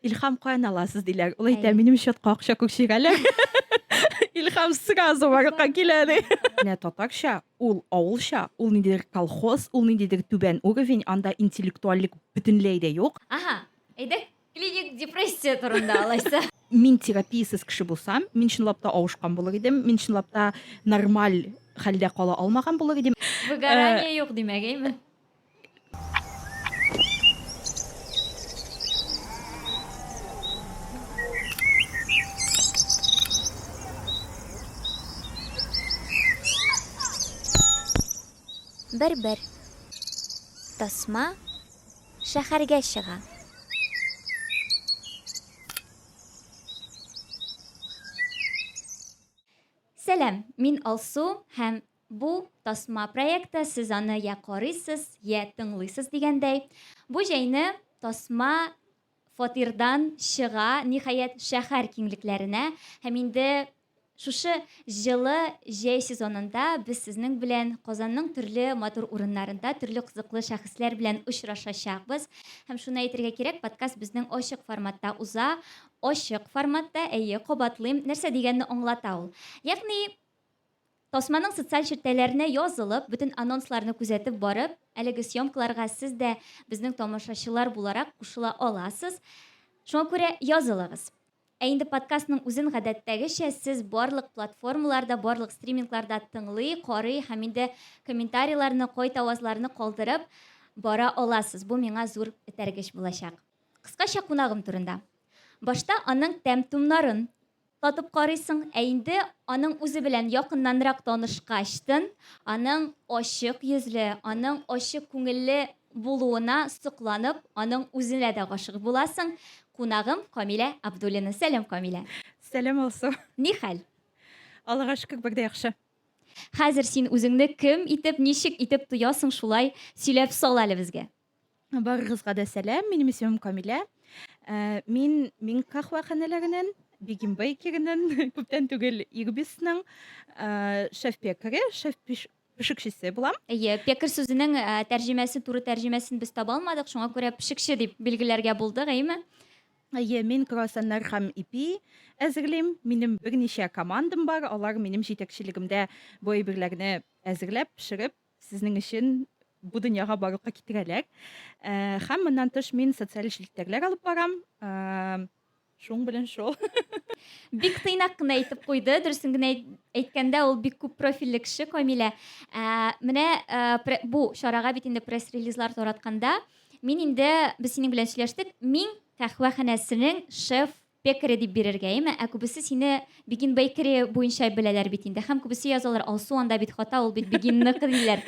Илхам каян аласыз диләр. Ул әйтә, минем счетка акча күчерәләр. Илхам сразу барырга килә ди. Менә татарча, ул авылча, ул ниндидер колхоз, ул ниндидер түбән уровень, анда интеллектуальлек бөтенләй дә юк. Аһа, әйдәк клиник депрессия турында алайса. Мин терапиясез кеше булсам, мин чынлап та авышкан булыр идем, мин чынлап та нормаль хәлдә кала алмаган булыр идем. Выгорание юк димәк, әйме? Бер-бер. Тасма шәһәргә чыга. Сәлам, мин Алсу һәм Бу, тасма проекты, сез аны йә карыйсыз, йә тыңлыйсыз дигәндәй. Бу җәйне тасма фатирдан чыга, ниһаять, шәһәр киңлекләренә. Һәм инде шушы җылы җәй сезонында без сезнең белән Казанның төрле матур урыннарында төрле кызыклы шәхесләр белән очрашачакбыз. Һәм шуны әйтергә кирәк, подкаст безнең ачык форматта уза. Ачык форматта, әйе, кабатлыйм, нәрсә дигәнне аңлата ул. Ягъни, Тасманың социаль челтәләренә язылып, бөтен анонсларны күзәтеп барып, әлеге съемкаларга сез дә безнең тамашачылар буларак кушыла аласыз. Шуңа күрә язылыгыз. Ә инде подкастның үзен гадәттәгечә сез барлык платформаларда, барлык стримингларда тыңлый, карый һәм инде комментарийларны, кайтавазларны калдырып бара аласыз. Бу миңа зур этәргеч булачак. Кыскача кунагым турында. Башта аның тәм-томнарын, Татып карыйсың, ә инде аның үзе белән якыннанрак танышкачтын, аның ачык йөзле, аның ачык күңелле булуына сокланып, аның үзенә дә гашыйк буласың. Кунагым Камилә Абдуллина. Сәлам, Камилә! Сәлам, Алсу! Ни хәл? Аллага шөкер, бик дә яхшы. Хәзер син үзеңне кем итеп, ничек итеп тоясың, шулай сөйләп сал әле безгә. Барыгызга да сәлам, минем исемем Камилә. Э, мин мин кахваханәләреннән, Бигим Бейкереннән, күптән түгел Ирбисның э, шеф пекаре, шеф пешекчесе булам. Әйе, пекарь сүзенең э, тәрҗемәсе, туры тәрҗемәсен без таба алмадык, шуңа күрә пешекче дип билгеләргә булдык, әйеме? Әйе, мин круассаннар һәм ипи әзерлим. Минем берничә командам бар, алар минем җитәкчелегемдә бу әйберләрне әзерләп, пешереп, Сезнең өчен бу дөньяга барлыкка китерәләр. Ә, һәм моннан тыш мин социаль челтәрләр алып барам. Ә, шуң белән шул. Бик тыйнак кына әйтеп куйды. Дөресен генә әйткәндә, ул бик күп профильле кеше Камилә. Ә, менә ә, бу чарага бит инде пресс-релизлар таратканда, мин инде без синең белән сөйләштек. Мин кахвәханәсенең шеф Пекари дип бирергә име? Ә күбесе сине Begin Bakery буенча беләләр бит инде. Һәм күбесе язалар, Алсу анда бит хата, ул бит Бегинныкы диләр.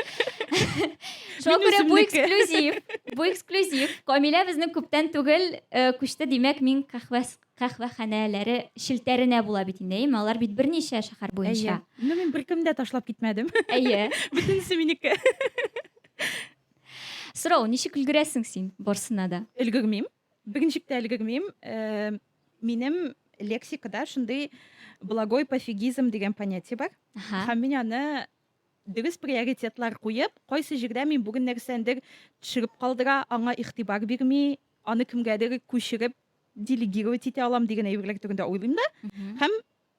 Шуңа күрә бу эксклюзив. Бу эксклюзив. Камилә безнең күптән түгел э, күчте, димәк, мин кахвәс кахвәханәләре челтәренә була бит инде, әйеме? Алар бит берничә шәһәр буенча. Әйе. Ну, мин беркем дә ташлап китмәдем. Әйе. Бөтенесе минеке. Сорау, ничек өлгерәсең син барсына да? Өлгермим. Берничек тә өлгермим. Минем лексикада шундый благой пофигизм дигән понятие бар. Һәм мин аны дөрес приоритетлар куеп, кайсы җирдә мин бүген нәрсәндер төшереп калдыра, аңа игътибар бирми, аны кемгәдер күчереп делегировать итә алам дигән әйберләр турында уйлыйм да. Һәм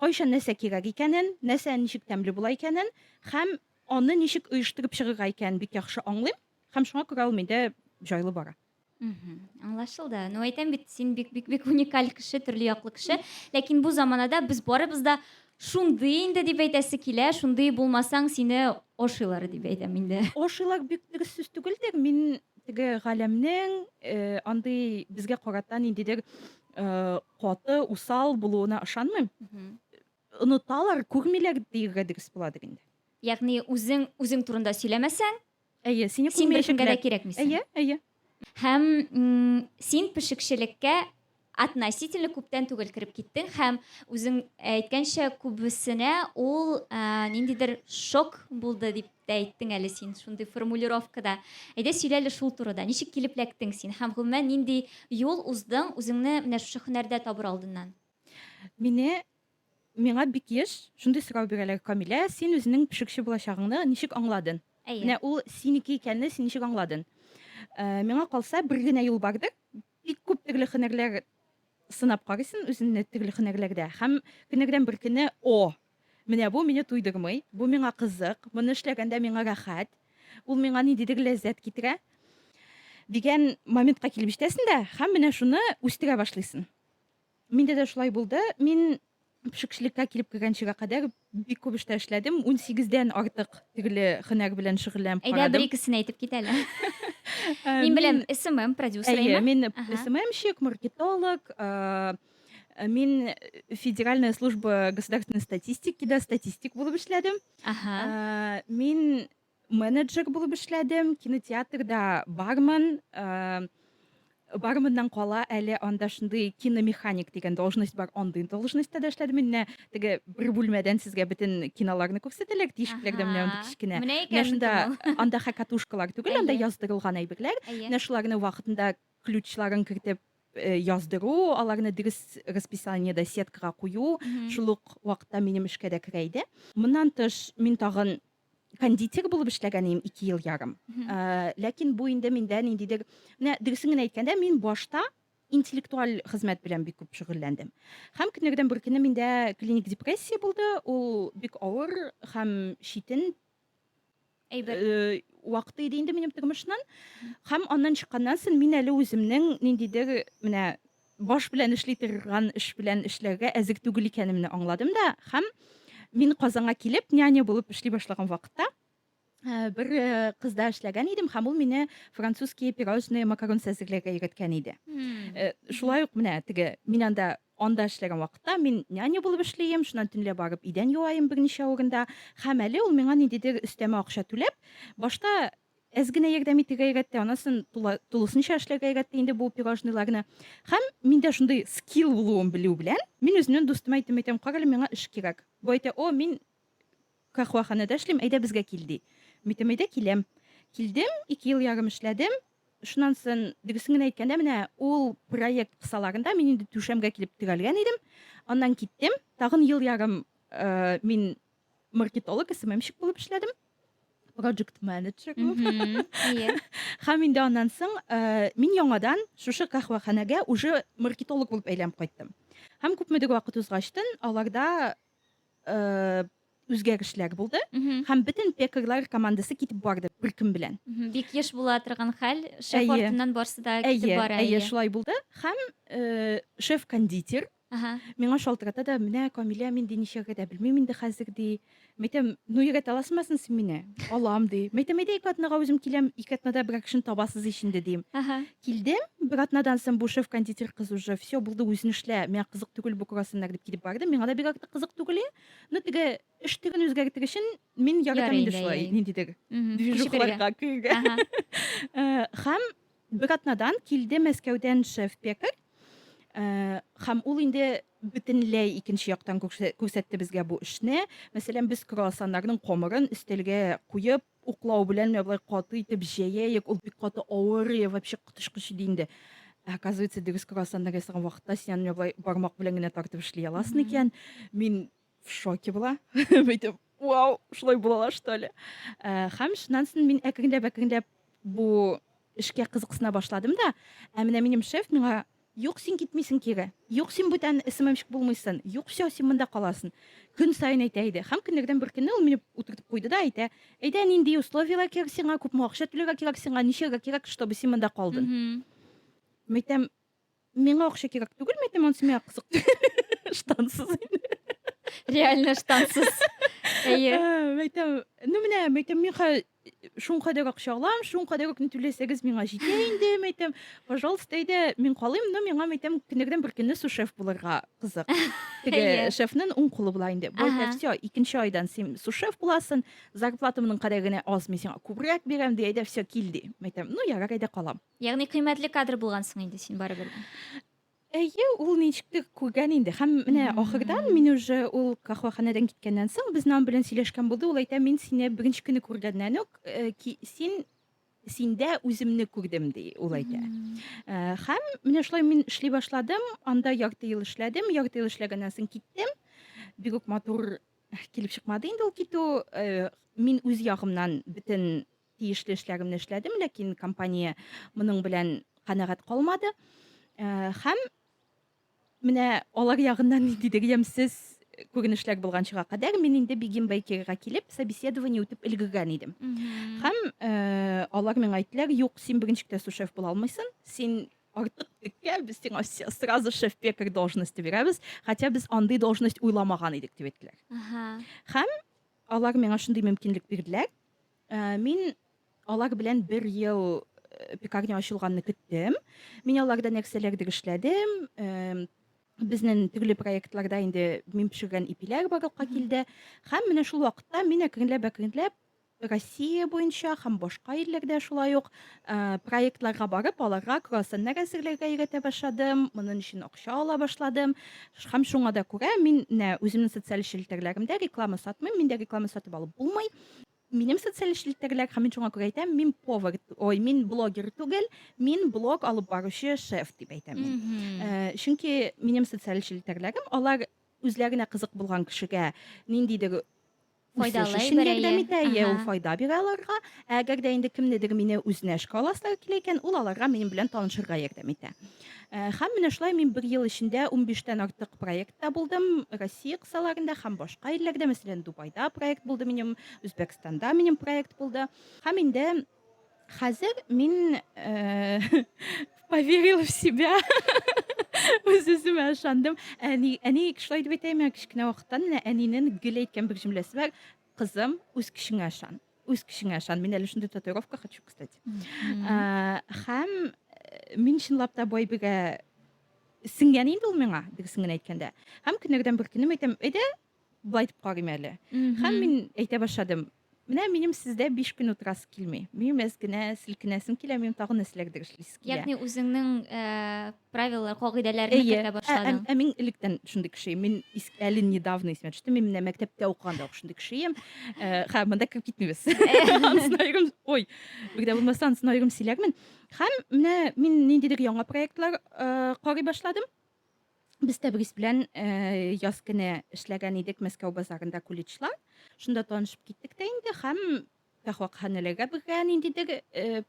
Кайчан нәрсә кирәк икәнен, нәрсә ничек тәмле була икәнен һәм аны ничек оештырып чыгырга икәнен бик яхшы аңлыйм һәм шуңа күрә ул миндә җайлы бара. Мхм, аңлашылды. Ну, әйтәм бит, син бик-бик-бик уникаль кеше, төрле яклы кеше. Ләкин бу заманада без барыбыз да шундый инде дип әйтәсе килә, шундый булмасаң, сине ашыйлар дип әйтәм инде. Ашыйлар бик дөрес сүз түгелдер. Мин теге галәмнең э, андый безгә карата ниндидер э, каты, усал булуына ышанмыйм. Оныталар, күрмиләр диергә дөрес буладыр инде. Ягъни үзең үзең турында сөйләмәсәң, әйе, сине син беркемгә дә кирәкмисең. Әйе, әйе. Һәм син пешекчелеккә относительно күптән түгел кереп киттең һәм үзең әйткәнчә күбесенә ул ә, ниндидер шок булды дип дип тә әйттең әле син шундый формулировкада. Әйдә сөйлә әле шул турыда. Ничек килеп эләктең син һәм гомумән нинди юл уздың үзеңне менә шушы һөнәрдә табыр алдыннан? Мине миңа бик еш шундый сорау бирәләр, Камилә, син үзенең пешекче булачагыңны ничек аңладың? Әйе. Менә ул синеке икәнне син ничек аңладың? Миңа калса, бер генә юл бардыр, Бик күп төрле һөнәрләр сынап карыйсын үзеңне төрле һөнәрләрдә һәм көннәрдән бер көнне, О! Менә бу мине туйдырмый, бу миңа кызык, моны эшләгәндә миңа рәхәт, ул миңа ниндидер ләззәт китерә, дигән моментка килеп җитәсен дә һәм менә шуны үстерә башлыйсын. Миндә дә шулай булды. Мин пешекчелеккә килеп кергәнчегә кадәр бик күп эштә эшләдем. Унсигездән артык төрле хөнәр белән шөгыльләнеп карадым. Әйдә, бер-икесен әйтеп кит әле. Мин беләм, СММ продюсеры. Әйе, мин СММщик, маркетолог. Мин Федеральная служба государственной статистики да статистик булып эшләдем. Мин Менеджер булып эшләдем, кинотеатрда бармын. Э, бармыннан кала әле анда шундый киномеханик дигән должность бар, андый должностьта да эшләдем. Менә теге бер бүлмәдән сезгә бөтен киноларны күрсәтәләр, тишекләрдә менә андый кечкенә. Менә икән шунда анда хакатушкалар түгел, анда яздырылган әйберләр. Менә шуларны вакытында ключларын кертеп э, яздыру, аларны дөрес расписаниедә сеткага кую, шул ук вакытта минем эшкә дә керә иде. Моннан тыш мин тагын кондитер булып эшләгән идем ике ел ярым э, ләкин бу инде миндә ниндидер менә дөресен генә әйткәндә мин башта интеллектуаль хезмәт белән бик күп шөгыльләндем һәм көннәрдән бер көнне миндә клиник депрессия булды ул бик авыр һәм читен әйбер э, вакыты иде инде минем тормышның һәм аннан чыкканнан соң мин әле үземнең ниндидер менә Баш белән эшли торган эш белән эшләргә әзер түгел икәнемне аңладым да һәм мин Казанга килеп, няня булып эшли башлаган вакытта, бер кызда эшләгән идем һәм ул мине французские пирожные макарон әзерләргә өйрәткән иде. Шулай ук менә теге мин анда анда эшләгән вакытта мин няня булып эшлим, шуннан төнлә барып идән юаем берничә урында. Һәм әле ул миңа ниндидер өстәмә акча түләп, башта әз генә ярдәм итергә өйрәтте, анысын тулысынча эшләргә өйрәтте инде бу пирожныйларны. Һәм миндә шундый скилл булуын белү белән, мин үземнең дустыма әйтәм, әйтәм, карале, миңа эш кирәк. Бу әйтә, о, мин кахваханәдә эшлим, әйдә безгә кил, ди. Митәм, әйдә киләм. Килдем, ике ел ярым эшләдем. Шуннан сон, дөресен генә әйткәндә, менә ул проект кысаларында мин инде түшәмгә килеп терәлгән идем. Аннан киттем, тагын ел ярым э, мин маркетолог сммщик булып эшләдем проджект менеджер һәм инде аннан соң э, мин яңадан шушы каһвәханәгә уже маркетолог булып әйләнеп кайттым һәм күпмедер вакыт узгачтын аларда э, үзгәрешләр булды һәм бөтен пекарлар командасы китеп барды бер көн белән бик еш була торган хәл шеф артыннан барсы да китеп бара әйе шулай булды һәм э, шеф кондитер Ага. Миңа шалтырата да, Менә, Камилә, мин ди нишләргә дә белмим инде хәзер, ди. Мәйтәм, Ну өйрәтә аласыңмы син син мине? Алам, ди. Мәйтәм, Әйдә ике атнага үзем киләм, ике атнада берәр кешене табасыз ич инде, дим. Ага. Килдем, бер атнадан соң бу шеф-кондитер кыз уже, Все, булды, үзең эшлә, миңа кызык түгел бу круассаннар, дип китеп барды. Миңа да бик артык кызык түгел иде. Ну теге эш төрен үзгәртер өчен мин яратам Ярый инде инде, шулай әй-әй. ниндидер Мгм. Күчегергә. движухаларга керергә. Ага. Һәм Бер атнадан килде Мәскәүдән шеф-пекарь, һәм ул инде бөтенләй икенче яктан күрсәтте безгә бу эшне. Мәсәлән, без круассаннарның камырын өстәлгә куеп, уклау белән менә болай каты итеп җәяек, ул бик каты авыр, вообще коточкыч иде инде. Ә оказывается, дөрес круассаннар ясаган вакытта син аны менә болай бармак белән генә тартып эшли аласың икән. Мин в шоке була бәйтеп вау шулай булалар что ли э, һәм шуннан соң мин әкренләп әкренләп бу эшкә кызыксына башладым да ә менә минем шеф миңа юк син китмисең кире юк син бүтән сммщик булмыйсың юк все син монда каласың көн сайын әйтә иде һәм көннәрдән бер көнне ул мине утыртып куйды да әйтә әйдә нинди условияләр кирәк сиңа күпме акча түләргә кирәк сиңа ничәгә кирәк чтобы син монда калдың мәйтәм Миңа акча кирәк түгелме әйтем анысы миңа кызык штансыз реально штансыз әйе мәйтәм ну менә мәйтәм миңа шуңа кадәр акча алам шуңа кадәр үк түләсәгез миңа җитә инде мәйтәм пожалуйста әйдә мин калыйм но миңа мәйтәм көннәрдән бер көнне сушеф булырга кызык теге шефның уң кулы була инде болай все икенче айдан син сушеф буласың зарплатамның кадәр генә аз мин сиңа күбрәк бирәм ди әйдә все кил ди мәйтәм ну ярар әйдә калам Ягъни кыйммәтле кадр булгансың инде син барыбер дә. Әйе, ул ничектер күргән инде. Һәм менә ахырдан мин уже ул кахваханәдән киткәннән соң безнең аның белән сөйләшкән булды. Ул әйтә, мин сине беренче көнне күргәннән үк э, ки, син синдә үземне күрдем, ди ул әйтә. Э, Һәм менә шулай мин эшли башладым, анда ярты ел эшләдем, ярты ел эшләгәннән соң киттем. Бик үк матур килеп чыкмады инде ул китү. Э, Мин үз ягымнан бөтен Тиешле эшләремне эшләдем, ләкин компания моның белән канәгать калмады. Һәм менә алар ягыннан ниндидер ямьсез күренешләр булганчыга кадәр мин инде Бигим Бейкерга килеп, собеседование үтеп өлгергән идем. Һәм алар миңа әйттеләр, юк, син беренче китә сушеф була алмыйсың, син артык теккә, без сиңа сразу шеф-пекарь должности бирәбез, хотя без андый должность уйламаган идек, дип әйттеләр. Һәм алар миңа шундый мөмкинлек бирделәр, Ә, мин алар белән бер ел э, пекарня ачылганны көттем. Мин аларда нәрсәләрдер эшләдем. Эм, Безнең төрле проектларда инде мин пешергән ипиләр барлыкка килде. Һәм менә шул вакытта мин әкренләп-әкренләп Россия буенча һәм башка илләрдә шулай ук Э, проектларга барып, аларга круассаннар әзерләргә өйрәтә башладым, моның өчен акча ала башладым. Һәм шуңа да күрә мин нә үземнең социаль челтәрләремдә реклама сатмыйм, миндә реклама сатып алып булмый. Минем социаль челтәрләр, һәм мин шуңа күрә әйтәм, мин повар, ой, мин блогер түгел, мин блог алып баручы шеф дип әйтәм мин. Э, чөнки минем социаль челтәрләрем, алар үзләренә кызык булган кешегә ниндидер Үсеш өчен ярдәм итә, йә ул файда бирә аларга. Ә әгәр дә инде кемнедер мине үзенә эшкә аласылары килә икән, ул аларга минем белән танышырга ярдәм итә. Һәм менә шулай мин бер ел эчендә унбиштән артык проектта булдым, Россия кысаларында һәм башка илләрдә, мәсәлән, Дубайда проект булды минем, Үзбәкстанда минем проект булды. Һәм инде Хәзер мин поверил в себя. Үз үземә ышандым. Әни, әни шулай дип әйтә, миңа кечкенә вакыттан менә әнинең гел әйткән бер җөмләсе бар. Кызым, үз көчеңә ышан. Үз көчеңә ышан. Мин әле шундый татуировка хочу, кстати. Һәм мин чынлап та бай бирә сеңгән инде ул миңа, дөресен генә әйткәндә. Һәм көннәрдән бер көнем әйтәм, әйдә, Болай дип карыйм әле. Һәм мин әйтә башладым. Менә минем сездә биш көн утырасы килми. Минем әз генә селкенәсем килә, минем тагын нәрсәләрдер эшлисе килә. Ягъни үзеңнең э, правилалар, кагыйдәләрне Әйе. кертә Ә, ә, башладың. ә мин электән шундый кеше идем. Мин ис- әле недавно исемә төште. Мин менә мәктәптә укыганда ук шундый кеше идем. Э, Һәм монда кереп китмибез. Ансын аерым, ой, бигдә булмаса ансын аерым сөйләрмен. Һәм менә мин ниндидер яңа проектлар э, карый башладым. Без Тәбрис белән яз көне эшләгән идек Мәскәү базарында куличла. Шунда танышып киттек тә инде һәм каһвәханәләргә бергә ниндидер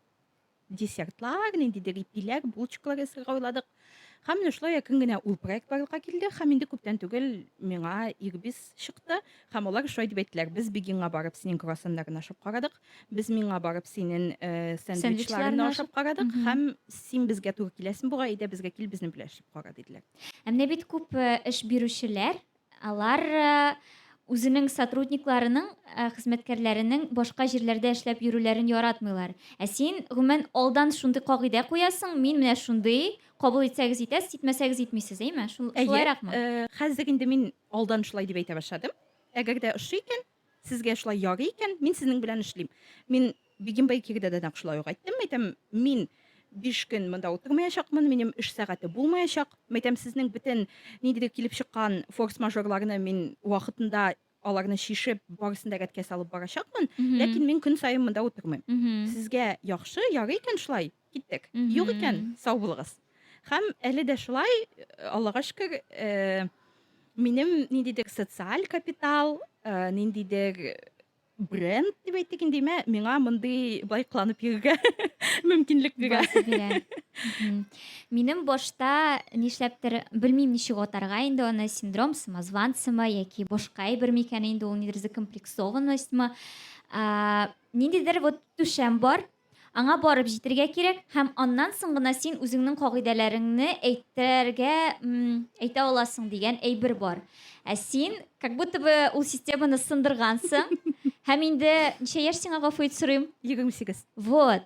десертлар, ниндидер ипиләр, булочкалар ясарга уйладык. Һәм менә шулай якын генә ул проект барлыкка килде һәм инде күптән түгел миңа Ирбис чыкты һәм алар шулай дип әйттеләр. Без Бегинга барып синең круассаннарыңны ашап карадык. Без миңа барып синен э, сэндвичларыңны ашап карадык Мгм. һәм син безгә туры киләсең буга, әйдә безгә кил, безне беләшеп кара диделәр. Ә менә бит күп э, эш бирүчеләр, алар э, үзенең сотрудникларының, э, хезмәткәрләренең башка җирләрдә эшләп йөрүләрен яратмыйлар. Ә син, гомумән, алдан шундый кагыйдә куясың, мин менә шундый, кабул итсәгез итәсез, итмәсәгез итмисез, әйме? Шул- Әйе, Шулайракмы? э, хәзер инде мин алдан шулай дип әйтә башладым. Әгәр дә ошый икән, Сезгә шулай ярый икән, мин сезнең белән эшлим. Мин Бигим Байкирдә дә нәкъ шулай ук әйттем. Әйтәм, мин биш көн монда утырмаячакмын, минем эш сәгате булмаячак. Әйтәм, сезнең бөтен ниндидер килеп чыккан форс-мажорларны мин вакытында аларны чишеп, барысын да рәткә салып барачакмын, ләкин мин көн саен монда утырмыйм. Сезгә яхшы, ярый икән шулай, Киттек. Юк икән, сау булыгыз. Һәм әле дә шулай, Аллага шөкер, э, минем ниндидер социаль капитал, э, ниндидер бренд дип әйтик инде, мә, миңа мондый былай кыланып йөрергә мөмкинлек бирә. Басы бирә. Мгм. Минем башта нишләптер, белмим ничек атарга инде аны, синдром самозванцамы яки башка әйбер микән инде ул, нидер закомплексованностьмы. А, Ниндидер вот түшәм бар, Аңа барып җитергә кирәк, һәм аннан соң гына син үзеңнең кагыйдәләреңне әйтергә, әйтә аласың дигән әйбер бар. Ә син, как будто бы ул системаны сындыргансың, һәм инде ничә яшь сиңа гафу ит сорыйм? 28. Вот.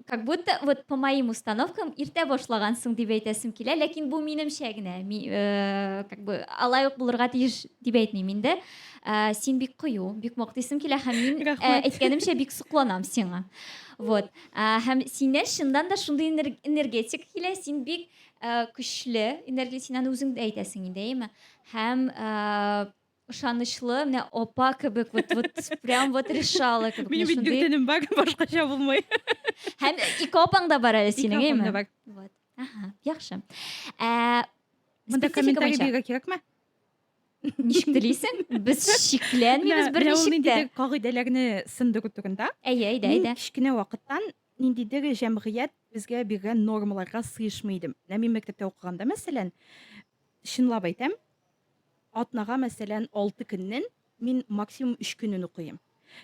Как будто вот по моим установкам иртә башлагансың дип әйтәсем килә, ләкин бу минемчә генә. Ми, э, как бы алай ук булырга тиеш дип әйтмим инде. ә, син бик кыю бик мактыйсың килә һәм мин ә, Рәхмәт. әйткәнемчә бик сокланам сиңа вот ә, һәм синнән чыннан да шундый энер- энергетик килә син бик ә, көчле энергия син аны үзең дә әйтәсең инде әйеме һәм ә, ышанычлы менә апа кебек вот вот прям вот решала кебек Минем менә бит шундый. дүртенем бар, башкача булмый. һәм ике апаң да бар әле Ике синең апам әйеме да бар. вот Ага, яхшы ә, Монда статистика комментарий буенча. бирергә кирәкме? ничек телисең без шикләнмибез бер ничек тә кагыйдәләрне сынды көтүгендә әйе әйдә әйдә кечкенә вакыттан ниндидер җәмгыять безгә биргән нормаларга сыешмый идем менә мин мәктәптә укыганда мәсәлән чынлап әйтәм атнага мәсәлән алты көннен мин максимум өч көнен укыйм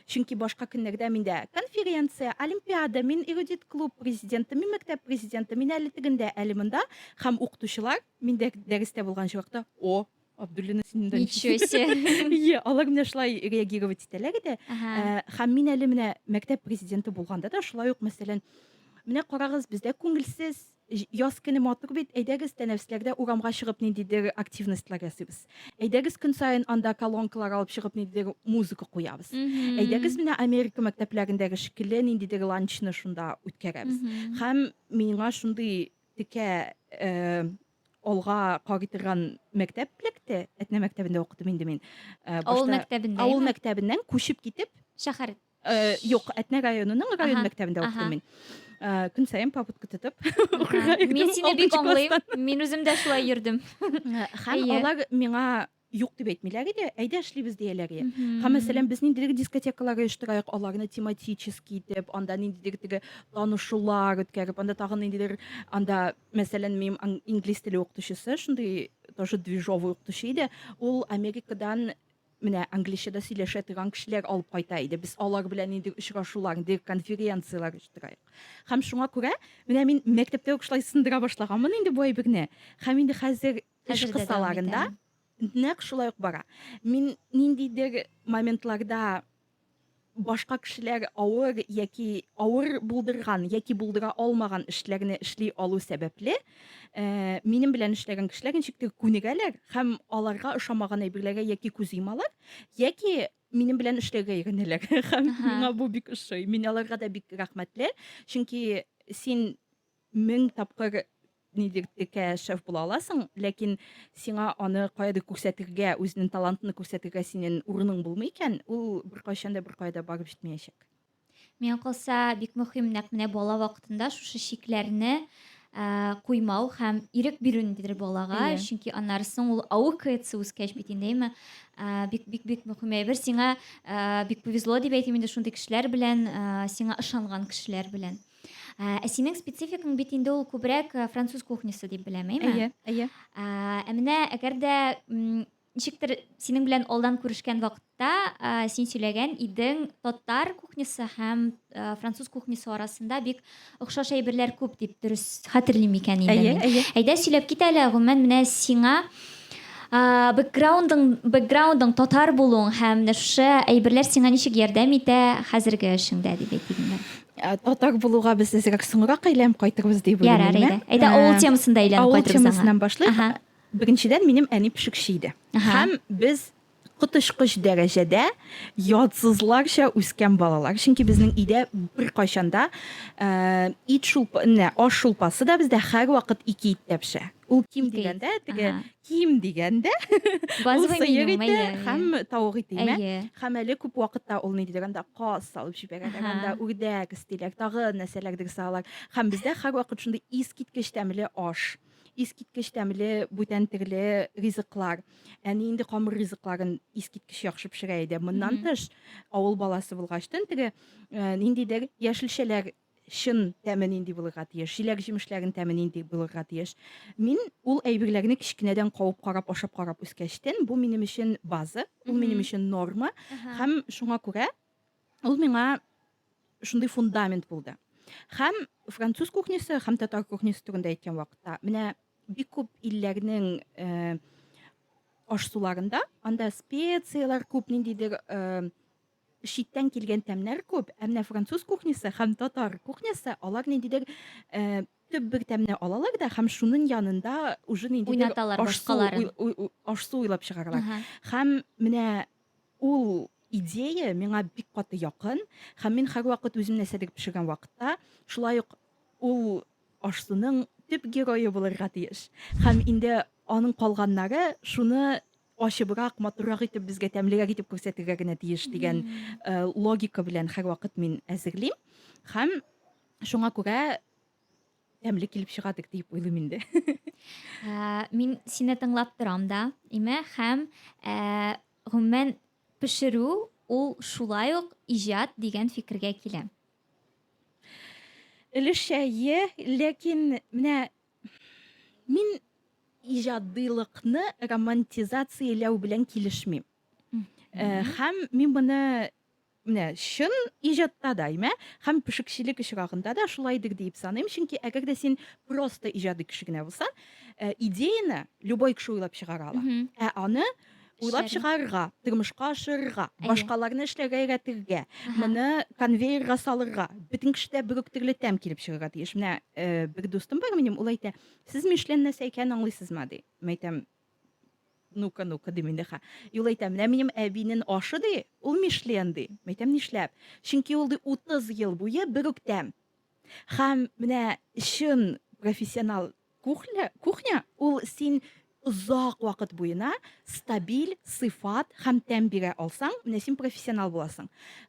Чөнки башка көннәрдә миндә конференция, олимпиада, мин эрудит клуб президенты, мин мәктәп президенты, мин әле тегендә, әле монда. Һәм укытучылар миндә дәрестә булган чакта, о, Абдуллина син монда Ничего себе. Иә, алар менә шулай реагировать итәләр иде. Ә, Һәм мин әле менә мәктәп президенты булганда да шулай ук, мәсәлән, менә карагыз, бездә күңелсез, Җ яз көне матур бит, әйдәгез, тәнәфесләрдә урамга чыгып ниндидер активностьлар ясыйбыз. Әйдәгез, көн саен анда колонкалар алып чыгып ниндидер музыка куябыз. Әйдәгез, Мгм. менә Америка мәктәпләрендәге шикелле ниндидер ланчны шунда үткәрәбез. Мгм. Һәм миңа шундый текә э, алга карый торган мәктәп эләкте. Әтнә мәктәбендә укыдым инде мин. Э, Авыл башта мәктәбендә, Авыл әйме? мәктәбеннән күчеп китеп, Шәһәр. Э, юк, Әтнә районының район Ага, мәктәбендә ага. укыдым мин. Э, Көн саен попытка тотып укырга йөрдем. Мин сине бик алтынчы аңлыйм. класстан. Мин үзем дә шулай йөрдем. Э, Һәм Әйе. алар миңа юк дип әйтмиләр иде, әйдә эшлибез дияләр иде. Һәм Мгм. мәсәлән, без ниндидер дискотекалар оештырайык, аларны тематически итеп, анда ниндидер теге танышулар үткәреп, анда тагын ниндидер анда, мәсәлән, минем ан- инглиз теле укытучысы, шундый тоже движовый укытучы иде. Ул Америкадан Менә англича да сөйләшә торган кешеләр алып кайта иде. Без алар белән нинди очрашулар, нинди конференцияләр оештырайык. Һәм шуңа күрә менә мин мәктәптә үк шулай сындыра башлаганмын инде бу әйберне. Һәм инде хәзер эш кысаларында нәкъ шулай ук бара. Мин ниндидер моментларда башка кешеләр авыр яки авыр булдырган яки булдыра алмаган эшләрне эшли алу сәбәпле, э, минем белән эшләгән кешеләр ничектер күнегәләр һәм аларга ошамаган әйберләргә яки күз йомалар, яки минем белән эшләргә өйрәнәләр. Һәм миңа бу бик ошый. Мин аларга да бик рәхмәтле, чөнки син Мең тапкыр нидер текә шеф була аласың, ләкин сиңа аны каядыр күрсәтергә, үзенең талантын күрсәтергә синең урының булмый икән, ул беркайчан да беркая да барып җитмәячәк. Миңа калса, бик мөһим нәкъ менә бала вакытында шушы чикләрне ә, куймау һәм ирек бирү ниндидер балага, Әйе. чөнки аннары соң ул аукается үскәч бит инде, әйме? Ә, бик бик бик мөһим әйбер. Сиңа ә, бик повезло дип әйтим инде шундый кешеләр белән, ә, сиңа ышанган кешеләр белән. Ә, ә синең спецификаң бит инде ул күбрәк э, француз кухнясы дип беләм, әйме? Әйе, әйе. Ә, ә менә әгәр дә м, ничектер синең белән алдан күрешкән вакытта ә, син сөйләгән идең татар кухнясы һәм ә, француз кухнясы арасында бик охшаш әйберләр күп дип дөрес хәтерлим икән инде Әйе, мин. әйе. Әйдә сөйләп кит әле, гомумән менә сиңа а, бэкграундың бэкграундың татар булуың һәм менә шушы әйберләр сиңа ничек ярдәм итә хәзерге эшеңдә дип әйтик инде. Ә, татар булуга без әзрәк соңрак әйләнеп кайтырбыз дип уйлыйм. Ярар, әйдә. Әйдә, авыл темасын да әйләнеп кайтырбыз. Авыл темасыннан башлыйк. Беренчедән, минем әни пешекче иде. Һәм без коточкыч дәрәҗәдә ятсызларча үскән балалар. Чөнки безнең өйдә беркайчан да э, ит шулпа, аш шулпасы да бездә һәрвакыт ике иттә пешә. Ул ким дигәндә, теге Ким дигәндә, ул сыер ите һәм тавык ите имә. Һәм әле күп вакытта ул ни дигәндә каз салып җибәрәләр, анда үрдәк истиләр, тагы нәрсәләрдер салалар. Һәм бездә һәрвакыт шундый искиткеч тәмле аш, искиткеч тәмле бүтән төрле ризыклар. Әни инде камыр ризыкларын искиткеч яхшы пешерә иде. Моннан тыш, авыл баласы булгач, төн теге ниндидер яшелчәләр чын тәме нинди булырга тиеш, җиләк җимешләрен тәме нинди булырга тиеш. Мин ул әйберләрне кечкенәдән кавып карап, ашап карап үскәчтен, бу минем өчен база, ул минем өчен норма, һәм шуңа күрә ул миңа шундый фундамент булды. Һәм француз кухнясы һәм татар кухнясы турында әйткән вакытта, менә бик күп илләрнең э, ашсуларында анда специяләр күп ниндидер э, читтән килгән тәмнәр күп, ә менә француз кухнясы һәм татар кухнясы алар ниндидер э, төп бер тәмне алалар да һәм шуның янында уже ниндидер ашсу уйлап чыгаралар. Һәм менә ул идея миңа бик каты якын һәм мин һәрвакыт үзем нәрсәдер пешергән вакытта шулай ук ул ашсуның төп герое булырга тиеш. Һәм инде аның калганнары шуны ачыбрак, матуррак итеп, безгә тәмлерәк итеп күрсәтергә генә тиеш дигән э, логика белән һәрвакыт мин әзерлим. Һәм шуңа күрә тәмле килеп чыга дип уйлыйм инде. Ә, Мин сине тыңлап торам да, име, һәм ә, гомумән пешерү ул шулай ук иҗат дигән фикергә киләм. Өлешчә е, ләкин менә Мин иҗадыйлыкны романтизацияләү белән килешмим. Э, һәм мин моны менә чын иҗатта да, имә, һәм пешекчелек очрагында да шулайдыр диеп саныйм, чөнки әгәр дә син просто иҗади кеше генә булсаң, э, идеяны любой кеше уйлап чыгара ала. Ә аны уйлап Эшләрне. чыгарырга, тормышка ашырырга, Әйе. башкаларны эшләргә өйрәтергә, Аха. моны конвейерга салырга, бөтен кешедә бер үк төрле тәм килеп чыгарга тиеш. Менә э, бер дустым бар минем, ул әйтә, сез Мишлен нәрсә икәнен аңлыйсызмы, ди. Мин әйтәм, ну-ка, ну-ка, дим инде ха. И Ул әйтә, менә минем әбинен ашы, ди, ул Мишлен, ди. Мин әйтәм, нишләп? Чөнки ул, ди, 30 ел буе бер үк тәм. Һәм менә чын профессионал Кухля, кухня ул син озак вакыт буена стабиль сыйфат һәм тәм бирә алсаң, менә син профессионал буласың.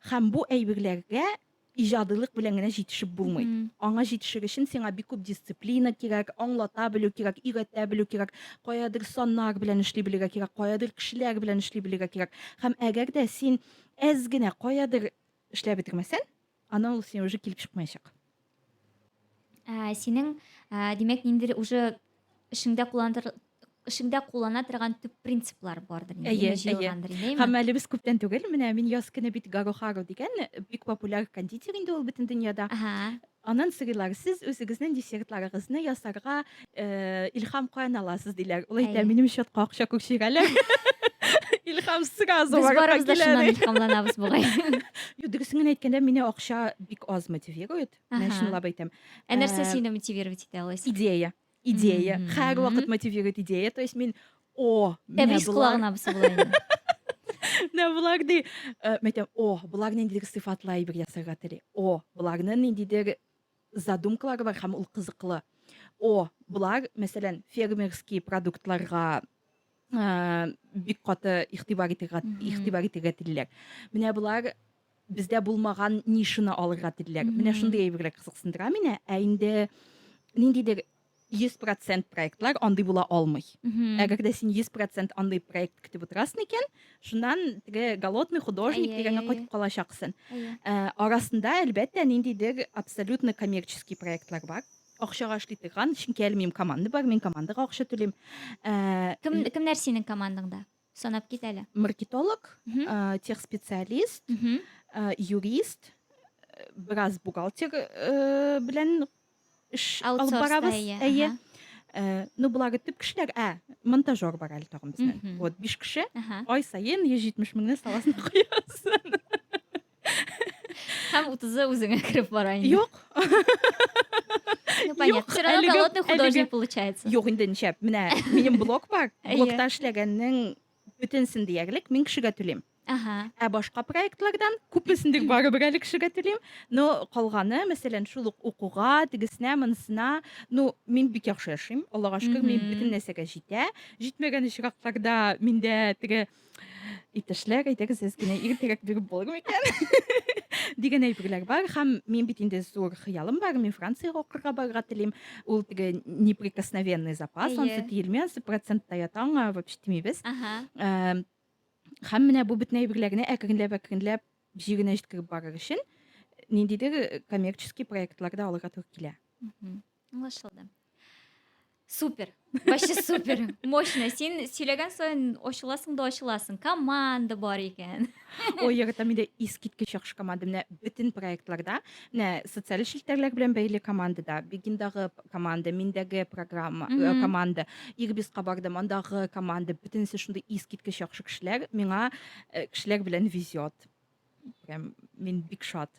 Һәм бу әйберләргә иҗадилык белән генә җитешеп булмый. Мгм. Аңа җитешер өчен сиңа бик күп дисциплина кирәк, аңлата белү кирәк, өйрәтә белү кирәк, каядыр саннар белән эшли белергә кирәк, каядыр кешеләр белән эшли белергә кирәк. Һәм әгәр дә син әз генә каядыр Эшләп бетергмәсән, аны ул сине уже килеп чыкмаячак. Ә, синең, ә, димәк, ниндидер уже эшеңдә кулланыр эшеңдә куллана торган төп принциплар бардыр инде. Әйе, әйе. Һәм әле без күптән түгел, менә мин яз көне бит Гарохару дигән бик популяр кондитер инде ул бөтен дөньяда. Ага. Аннан сорыйлар, сез үзегезнең десертларыгызны ясарга илһам каян аласыз, диләр. Ул әйтә, минем счетка акча күчерәләр. Илһам сразу Без барыбыз да шуннан илһамланабыз бугай. Юк, дөресен генә әйткәндә, мине акча бик аз мотивирует. Мин чынлап әйтәм. Ә нәрсә сине мотивировать итә алайса? Идея. идея һәр вакыт мотивирует идея то есть мин о тәбрис колагына менә болар ди э, мен әйтәм о болар ниндидер сыйфатлы әйбер ясарга тели о боларның ниндидер задумкалары бар һәм ул кызыклы о болар мәсәлән фермерский продуктларга бик каты игътибар итергә игътибар итергә телиләр. Менә болар бездә булмаган нишаны алырга телиләр. Менә шундый әйберләр кызыксындыра мине. Ә инде ниндидер 100% проектлар андый була алмый. Әгәр дә син 100% андый проект көтеп утырасың икән, шуннан теге голодный художник дигәнгә кайтып калачаксың. Арасында, әлбәттә, ниндидер абсолютно коммерческий проектлар бар. акчага эшли торган чөнки әле минем команда бар мин командага акча түлим э, кем кемнәр синең командаңда санап кит әле маркетолог э, тех специалист э, юрист бераз бухгалтер белән эш алып барабыз әйе ну болары төп кешеләр ә монтажер бар әле тагын безнең вот биш кеше ай саен йөз җитмеш меңне саласына куябыз Һәм 30-ы үзеңә кереп бара инде. Юк. Ну, понятно. Все равно әлеге- голодный художник әлеге- получается. Юк, инде ничәп. Менә минем блок бар. Әйе. Блокта эшләгәннең бөтенсен диярлек мин кешегә түлим. Ага. Ә башка проектлардан күпесен дә барыбер әле кешегә түлим. Но калганы, мәсәлән, шул ук укуга, тегесенә, монысына, ну, мин бик яхшы яшим. Аллага шөкер, мин Мгм. бөтен нәрсәгә җитә. Җитмәгән очракларда миндә теге Иптәшләр, әйдәгез сез генә иртәрәк биреп булыр микән? дигән әйберләр бар һәм мин бит инде зур хыялым бар мин франциягә укырга барырга телим ул теге неприкосновенный запас ансы тиелми ансы процентта ята аңа вообще тимибез һәм менә бу бөтен әйберләрне әкренләп әкренләп җиренә җиткереп барыр өчен ниндидер коммерческий проектлар да алырга туры килә Аңлашылды. Супер. Вообще супер. Мощно. Син сөйләгән саен ачыласың да ачыласың. Команда бар икән. Ой, яратам инде искиткеч яхшы команда. Менә бөтен проектларда, менә социаль челтәрләр белән бәйле командада, Бегиндагы команда, миндәге программа, э, Мгм. команда, Ирбиска бардым, андагы команда, бөтенесе шундый искиткеч яхшы кешеләр. Миңа э, кешеләр белән везет. Прям мин бик шат.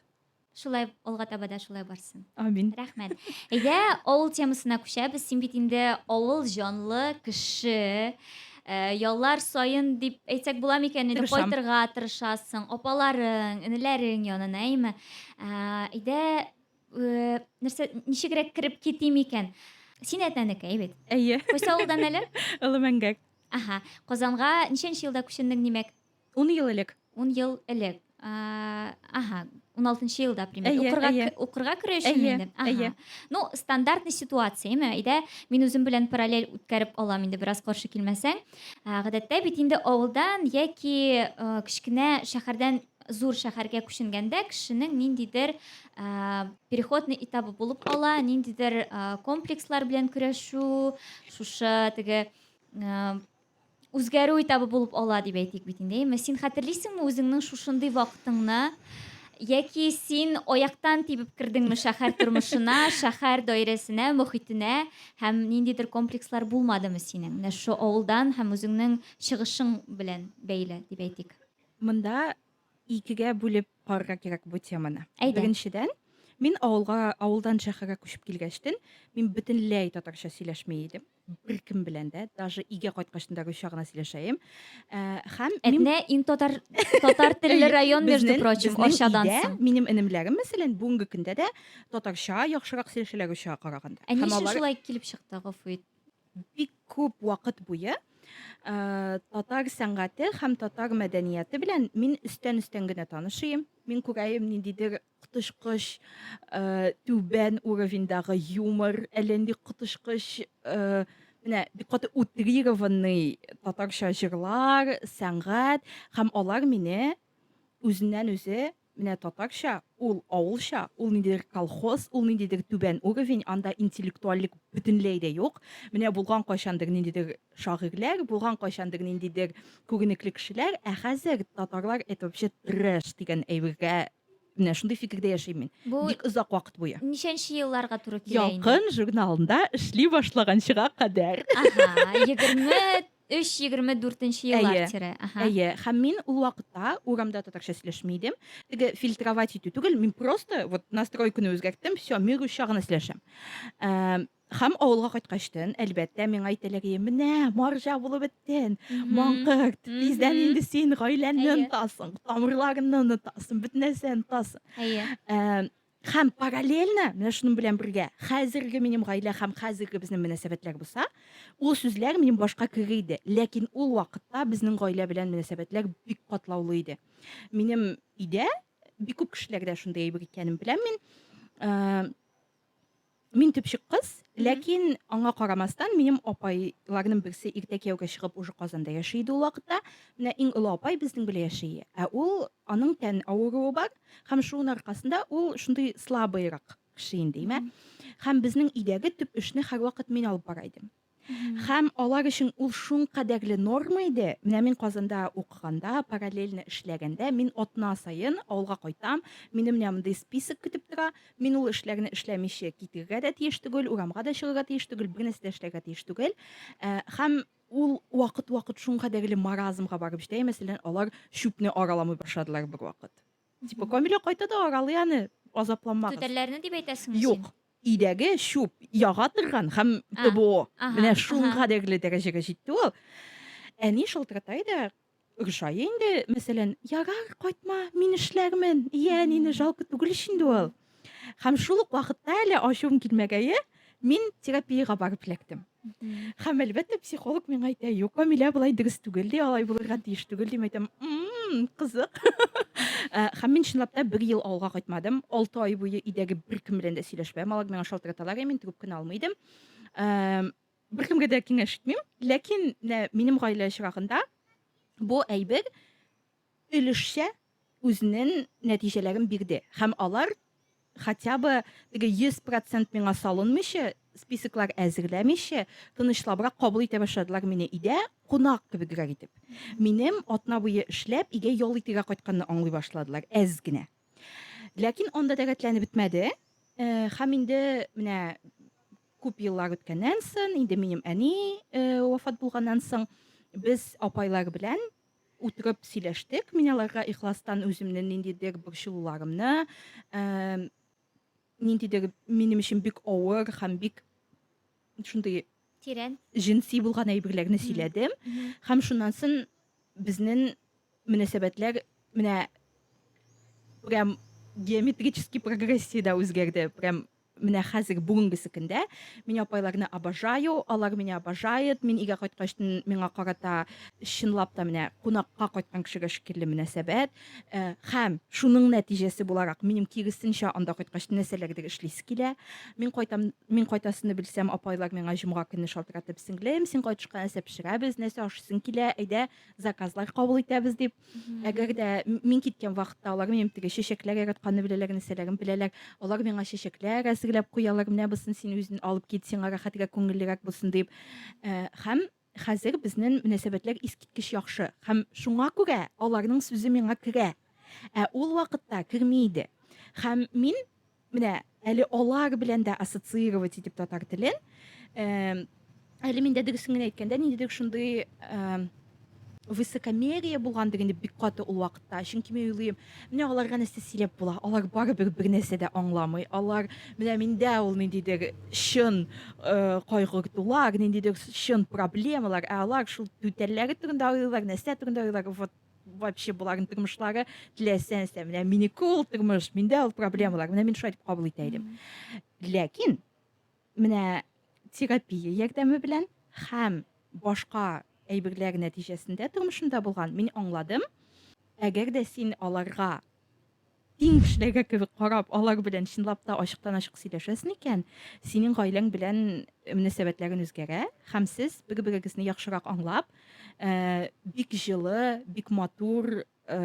Шулай алга таба да шулай барсын. Амин. Рәхмәт. Әйдә, авыл темасына күчәбез. Син бит инде авыл җанлы кеше. Э, яллар саен дип әйтсәк була микән инде Тырышам. кайтырга тырышасың апаларың энеләрең янына әйме Ә, әйдә э, нәрсә ничегрәк кереп китим икән син әтнәнекәй бит Әйе. кайсы авылдан әле Олы мәңгәк. аха казанга ничәнче елда күченең димәк Ун ел элек. Ун ел элек. Ага, ун алтынчы елда примерно укырга керү өчен инде әйе ну стандартный ситуация ме әйдә мин үзем белән параллель үткәреп алам инде бераз каршы килмәсәң гадәттә бит инде авылдан яки кечкенә шәһәрдән зур шәһәргә күченгәндә кешенең ниндидер ә, переходный этабы булып кала ниндидер ә, комплекслар белән көрәшү шушы теге ә, үзгәрү этабы булып ала дип әйтик бит инде, әйеме? Син хәтерлисеңме үзеңнең шушындый вакытыңны? Яки син аяктан тибеп кердеңме шәһәр тормышына, шәһәр даирәсенә, мөхитенә һәм ниндидер комплекслар булмадымы синең? Менә шушы авылдан һәм үзеңнең чыгышың белән бәйле дип әйтик. Монда икегә бүлеп карарга кирәк бу теманы. Әйдә. Беренчедән, мин авылга, авылдан шәһәргә күчеп килгәчтен, мин бөтенләй татарча сөйләшми идем. беркем белән дә даже өйгә кайткачтын да гөлча гына сөйләшәем э, һәм әтнә ин татар татар телле район между прочим арчадан соң минем энемләрем мәсәлән бүгенге көндә дә татарча яхшырак сөйләшәләр гөлчага караганда ә ни өчен шулай килеп чыкты гафу ит бик күп вакыт буе э, татар сәнгате һәм татар мәдәнияте белән мин өстән өстән генә танышыйм мин күрәем ниндидер коточкыч түбән уровеньдагы юмор, әллә нинди коточкыч менә бик каты утрированный татарча җырлар, сәнгать һәм алар мине үзеннән үзе менә татарча, ул авылча, ул ниндидер колхоз, ул ниндидер түбән уровень, анда интеллектуальлек бөтенләй дә юк. Менә булган кайчандыр ниндидер шагыйрьләр, булган кайчандыр ниндидер күренекле кешеләр, ә хәзер татарлар это вообще трэш дигән әйбергә менә шундый фикердә яшим мин. Бу бик озак вакыт буе. Ничәнче елларга туры килә инде? Ялкын журналында эшли башлаганчыга кадәр. Ага, 23-24 еллар тирә. Ага. Әйе, һәм мин ул вакытта урамда татарча сөйләшми идем. Теге фильтровать итү түгел, мин просто вот настройканы үзгәрттем, все, мир учагына сөйләшәм. Хәм авылга кайткачтын, әлбәттә, миңа әйтәләгие, менә, марҗа булып беттен, маңкырт, тиздән инде син гаиләнне онтасың, тамырларынны онтасың, бөтен нәрсә онтасың. Хәм параллельно, менә шуның белән бергә, хәзерге минем гаилә хәм хәзерге безнең мөнәсәбәтләр булса, ул сүзләр минем башка кеге иде. Ләкин ул вакытта безнең гаилә белән мөнәсәбәтләр бик катлаулы иде. Минем өйдә бик күп кешеләрдә шундый әйбер икәнен беләм мин. Мин төпчек кыз, ләкин аңа карамастан, минем апайларның берсе иртә кияүгә чыгып уже Казанда яши иде ул вакытта. Менә иң олы апай безнең белән яши. Ә ул аның тән авыруы бар һәм шуның аркасында ул шундый слабыйрак кеше инде, имә. Һәм безнең өйдәге төп эшне һәрвакыт мин алып бара идем. Хәм алар өчен ул шун кадәрле норма иде. Менә мин Казанда укыганда, параллельно эшләгәндә, мин атна саен авылга кайтам, мине менә мондый список көтеп тора, мин ул эшләрне эшләмичә китергә дә тиеш түгел, урамга да чыгырга тиеш түгел, бер нәрсә дә эшләргә тиеш түгел. Э, хәм ул вакыт-вакыт шун кадәрле маразмга барып җитә, мәсәлән, алар чүпне араламый башладылар бер вакыт. Типа, Камилә кайта да аралый аны, азапланмагыз. Түтәлләрне дип әйтәсеңме син? Юк. Өйдәге чүп яга торган һәм ТБО. Менә шул кадәрле дәрәҗәгә җитте ул. Әни шылтырата иде, ошай инде, мәсәлән, ярар, кайтма, мин эшләрмен. Йә, әнине жалко түгел ич инде ул. Һәм шул ук вакытта әле ачуым килмәгәе, мин терапиягә барып эләктем. Һәм әлбәттә психолог миңа әйтә, юк, Камилә болай дөрес түгел ди, алай булырга тиеш түгел дим әйтәм. Мм, кызык. Э, һәм мин чынлап та бер ел авылга кайтмадым. 6 ай буе өйдәге беркем белән дә сөйләшмәдем. Алар миңа шалтыраталар, мин трубканы алмый идем. Э, беркемгә дә киңәш итмим. Ләкин менә минем гаилә чирагында бу әйбер өлешчә үзенен нәтиҗәләрен бирде һәм алар хотя бы теге 100 процент миңа салынмыйча, списоклар әзерләмичә, тынычлабрак кабул итә башладылар мине идә кунак кебегрәк итеп. Минем атна буе эшләп игә ял итергә кайтканны аңлый башладылар әз генә. Ләкин анда да рәтләнеп бетмәде. Һәм инде менә күп еллар үткәннән сон, инде минем әни вафат булганнан соң, без апайлар белән утырып сөйләштек. Мин аларга ихластан үземнең ниндидер борчылуларымны, ә, ниндидер минем өчен бик авыр һәм бик шундый тирән җенси булган әйберләрне сөйләдем. Һәм шуннан соң безнең мөнәсәбәтләр менә прям геометрический прогрессиядә үзгәрде. Прям Менә хәзерге бүгенге секендә мин апайларны обожаю, алар меня обожает. Мин өйгә кайткач миңа карата чынлап та менә кунакка кайткан кешегә шикелле мөнәсәбәт. Э, һәм шуның нәтиҗәсе буларак минем киресенчә анда кайткач нәрсәләрдер эшлисе килә. Мин кайтам, мин кайтасыны белсәм, апайлар миңа җомга көнне шалтыратып, сеңлем, син кайтышка нәрсә пешерәбез, нәрсә ашыйсың килә, әйдә, заказлар кабул итәбез дип әгәр дә мин киткән вакытта алар минем теге чәчәкләр яратканны беләләр нәрсәләрен беләләр алар миңа чәчәкләр әзерләп куялар менә бусын син үзен алып кит сиңа рәхәтрәк күңеллерәк булсын дип э, һәм хәзер безнең мөнәсәбәтләр искиткеч яхшы һәм шуңа күрә аларның сүзе миңа керә ә ул вакытта керми иде һәм мин Менә әле алар белән дә ассоциировать итеп татар телен. Эм, әле миндә дөресен генә әйткәндә, ниндидер шундый эм, высокомерие булгандыр инде бик каты ул вакытта. Чөнки мин уйлыйм, менә аларга нәрсә сөйләп була? Алар барыбер бер нәрсә дә аңламый. Алар менә миндә ул ниндидер чын э, кайгыртулар, ниндидер чын проблемалар, ә алар шул түтәлләре турында уйлыйлар, нәрсә турында уйлыйлар. Вот вообще боларның тормышлары теләсә нәрсә менә минеке ул тормыш миндә ул проблемалар менә мин шулай дип кабул итә идем ләкин менә терапия ярдәме белән һәм башка әйберләр нәтиҗәсендә тормышымда булган мин аңладым әгәр дә син аларга Иң кешеләргә кебек карап, алар белән чынлап та ачыктан-ачык сөйләшәсең икән, синең гаиләң белән мөнәсәбәтләрең үзгәрә һәм сез, бер-берегезне яхшырак аңлап, бик җылы, бик матур,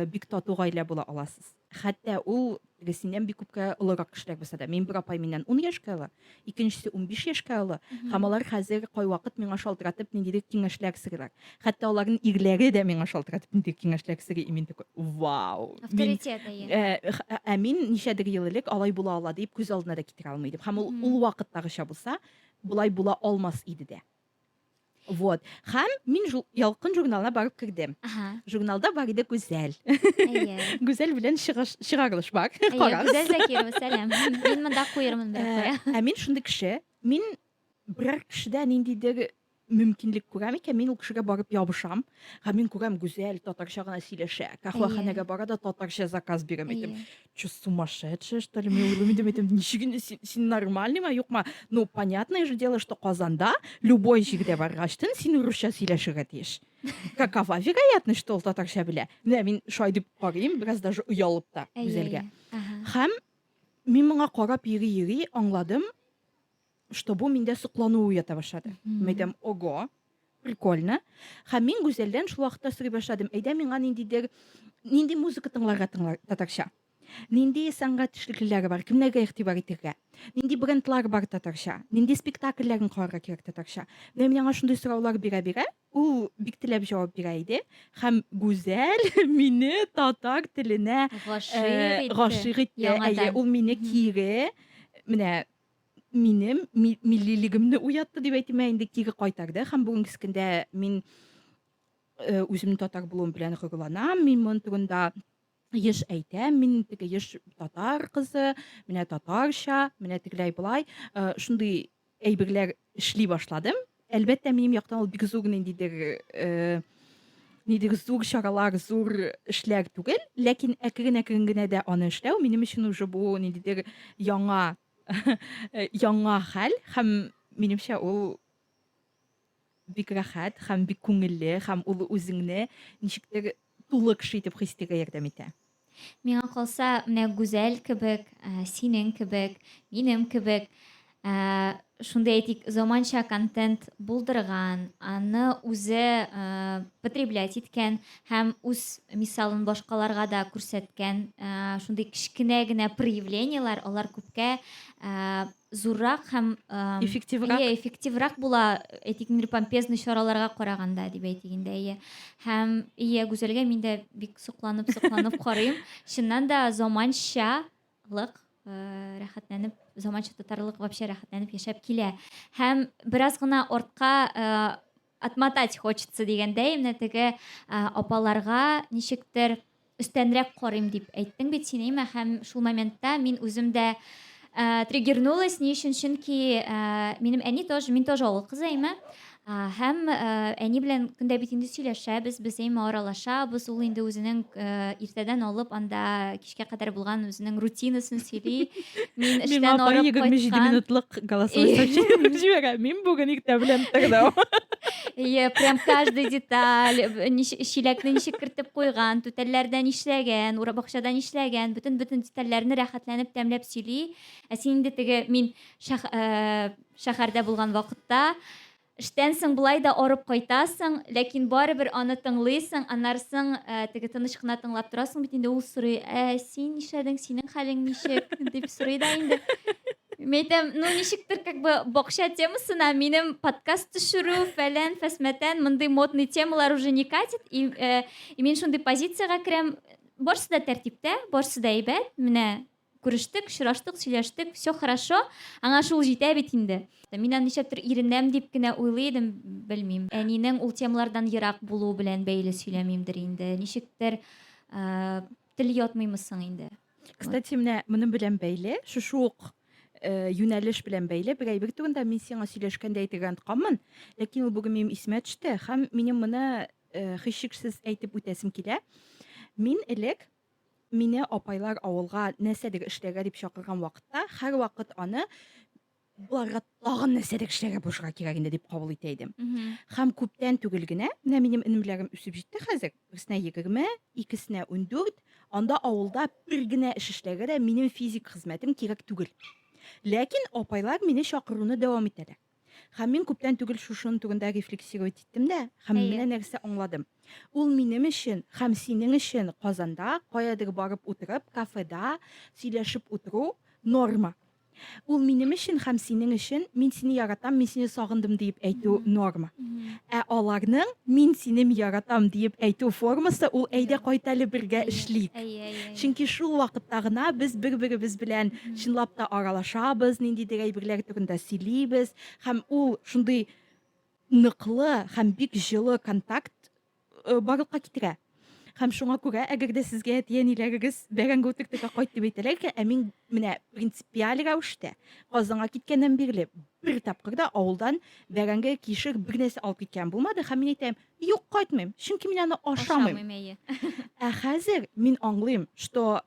бик тату гаилә була аласыз. Хәтта ул, теге синнән бик күпкә олырак кешеләр булса да. Минем бер апай миннән ун яшькә олы. икенчесе унбиш яшькә олы һәм алар хәзер кайвакыт миңа шалтыратып ниндидер киңәшләр сорыйлар хәтта аларның ирләре дә миңа шалтыратып ниндидер киңәшләр сорый и мин такой вау авторитет ә, ә мин ничәдер ел элек алай була ала дип күз алдына да китерә алмый идем һәм ул ул вакыттагыча булса болай була алмас иде дә Вот. Хәм мин ялкын журналына барып кердем. Ага. Журналда бар иде Гүзәл. Әйе. Гүзәл белән чыгарылыш бар. Әйе, Гүзәл Закирова, сәлам. Мин монда куермын бер куя. Ә мин шундый кеше, мин берәр кешедә ниндидер мөмкинлек күрәм икән, мин ул кешегә барып ябышам. Һәм мин күрәм Гүзәл татарча гына сөйләшә. Кахваханәгә бара да татарча заказ бирәм әйтем. Че сумасшедшая, что ли? Мен ойлаймын, мен айтамын, нешеге сен нормальный ма, юк ма? Ну, понятное же дело, что Казанда любой җирдә баргач, тен син урысча сөйләшергә тиеш. Какова вероятность, что ул татарча белә? Менә мин шулай дип карыйм, бераз даже оялып та Гүзәлгә. Һәм мин моңа карап йөри-йөри аңладым, что бу миндә соклану уята башлады мин әйтәм ого прикольно һәм мин гүзәлдән шул вакытта сорый башладым әйдә миңа ниндидер нинди музыка тыңларга тыңлар татарча нинди сәнгать эшлеклеләре бар кемнәргә игътибар итәргә нинди брендлар бар татарча нинди спектакльләрен карарга кирәк татарча менә мин аңа шундый сораулар бирә бирә ул бик теләп җавап бирә иде һәм гүзәл мине татар теленә гашыйк итте ул мине кире менә минем миллилегемне уятты дип әйтим ә инде кире кайтарды һәм бүгенге көндә мин э, үземнең татар булуым белән горурланам мин моның турында еш әйтәм мин теге еш татар кызы менә татарча менә тегеләй болай э, шундый әйберләр эшли башладым Әлбәттә, минем яктан ул бик зур ниндидер э, нидер зур чаралар, зур эшләр түгел, ләкин әкрен-әкрен генә дә аны эшләү минем өчен уже бу ниндидер яңа яңа хәл һәм минемчә ул бик рәхәт һәм бик күңелле һәм ул үзеңне ничектер тулы кеше итеп хис итәргә ярдәм итә. Миңа калса, менә Гүзәл кебек, ә, синең кебек, минем кебек, ә, шундый әйтик, заманча контент булдырган, аны үзе ә, потреблять иткән һәм үз мисалын башкаларга да күрсәткән ә, шундый кечкенә генә проявлениеләр, алар күпкә ә, зуррак һәм эффективрак иә эффективрак була әйтик инде помпезный чараларга караганда дип әйтик инде иә һәм иә гүзәлгә мин дә бик сокланып сокланып карыйм чыннан да заманчалык рәхәтләнеп заманча татарлык вообще рәхәтләнеп яшәп килә һәм бераз гына артка Отмотать хочется дигәндәй, менә теге апаларга ничектер өстәнрәк карыйм дип әйттең бит син, Имә, һәм шул моментта мин үзем дә триггернулась, ни өчен, чөнки минем әни тоже, мин тоже авыл кызы, Имә, һәм әни белән көн дә бит инде сөйләшәбез, без, Имә, аралашабыз, ул инде үзенең иртәдән алып анда кичкә кадәр булган үзенең рутинасын сөйли. Мин эштән арып кайткан. 27 минутлык голосовой сообщение җибәрә. Мин бүген иртә белән тордым. Ие, прям каждый деталь, чиләкне ничек кертеп куйган, түтәлләрдә нишләгән, бакчада нишләгән, бөтен-бөтен детальләрне рәхәтләнеп тәмләп сөйли. Ә син инде теге мин шәһәрдә булган вакытта Эштән соң болай да арып кайтасың, ләкин барыбер аны тыңлыйсың, аннары соң теге тыныч кына тыңлап торасың бит инде, ул сорый, ә син нишләдең, синең хәлең ничек, дип сорый да инде. Мин әйтәм, ну ничектер как бы бакча темасына минем подкаст төшерү, фәлән, фәсмәтән, мондый модный темалар уже не катит, и, э, и мин шундый позициягә керәм, барысы да тәртиптә, барысы да әйбәт, менә Күрештек, очраштык, сөйләштек, все хорошо, аңа шул җитә бит инде. Мин аны нишләптер иренәм дип кенә уйлый идем, белмим. Әнинең ул темалардан ерак булуы белән бәйле сөйләмимдер инде. Ничектер тел ятмыймы соң инде. Кстати, менә моның белән бәйле, шушы ук э, юнәлеш белән бәйле бер әйбер турында мин сиңа сөйләшкәндә әйтергә онтканмын, ләкин ул бүген минем исемә төште һәм минем моны э, һичшиксез әйтеп үтәсем килә. Мин элек Мине апайлар авылга нәрсәдер эшләргә дип чакырган вакытта, һәрвакыт аны боларга тагын нәрсәдер эшләргә булышырга кирәк инде дип кабул итә идем. Һәм күптән түгел генә, менә минем энемләрем үсеп җитте хәзер, берсенә 20, икесенә 14, анда авылда бер генә эш эшләргә дә минем физик хезмәтем кирәк түгел. Ләкин апайлар мине чакыруны дәвам итәләр. Һәм мин күптән түгел шушының түгендә рефлексировать иттем дә, һәм Әйе. менә нәрсә аңладым. Ул минем өчен һәм синең өчен Казанда каядыр барып утырып, кафеда сөйләшеп утыру норма. Ул минем өчен һәм синең өчен мин сине яратам, мин сине сагындым диеп әйтү норма. Ә аларның Мин синем яратам диеп әйтү формасы ул Әйдә кайт әле бергә эшлик. Чөнки шул вакытта гына без бер-беребез белән чынлап та аралашабыз, ниндидер әйберләр турында сөйлибез һәм ул шундый ныклы һәм бик җылы контакт барлыкка китерә. Һәм шуңа күрә, әгәр дә сезгә әти-әниләрегез бәрәңге утыртырга кайт дип әйтәләр икән, ә мин менә принципиаль рәвештә Казанга киткәннән бирле бер тапкыр да авылдан бәрәңге, кишер, бер нәрсә алып киткән булмады һәм мин әйтәм, юк, кайтмыйм, чөнки мин аны ашамыйм. Ашамыйм, әйе. Ә хәзер мин аңлыйм, что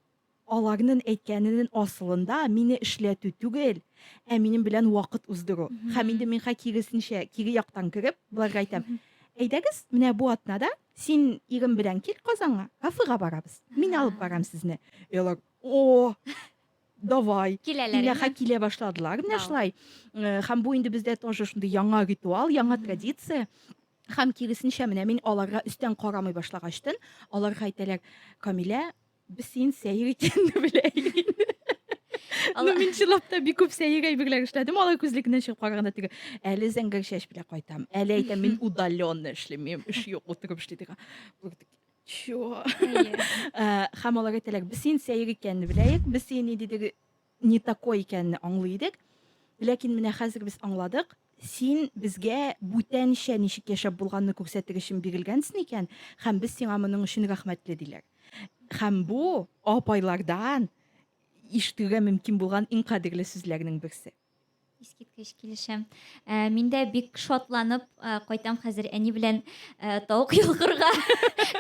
Аларнын әйткәненен асылында мине эшләтү түгел, ә минем белән вакыт уздыру. Хәм инде миңа киресенчә, кире яктан кереп, боларга әйтәм, Әйдәгез, менә бу атнада син ирең белән кил Казанга, кафега барабыз. Мин алып барам сезне. И алар, О! Давай! Киләләр инде. Иләха килә башладылар менә шулай. Хәм бу инде бездә тоже шундый яңа ритуал, яңа традиция. Хәм киресенчә, менә мин аларга өстән карамый башлагачтын, аларга әйтәләр, Камилә, Без син сәер икәнне беләйек. Ну, мин чылапта бик күп сәер әйберләр эшләдем, алай күзлекне чыгып караганда теге әле зәңгәр чәч белән кайтам. Әле әйтәм, мин удаленно эшлим, мин эш юк, утырып эшли диген. Чё? Һәм алар әйтәләр, без син сәер икәнне беләйек, без син ни дидек не такой икәнне аңлый идек. Ләкин менә хәзер без аңладык, син безгә бүтәнчә ничек яшәп булганны күрсәтер өчен бирелгәнсең икән, һәм без сиңа моның өчен рәхмәтле, диләр. Һәм бу апайлардан ишетергә мөмкин булган иң кадерле сүзләрнең берсе. Искиткеч килешәм. Ә, мин дә бик шатланып ә, кайтам хәзер әни белән ә, тавык йолкырга.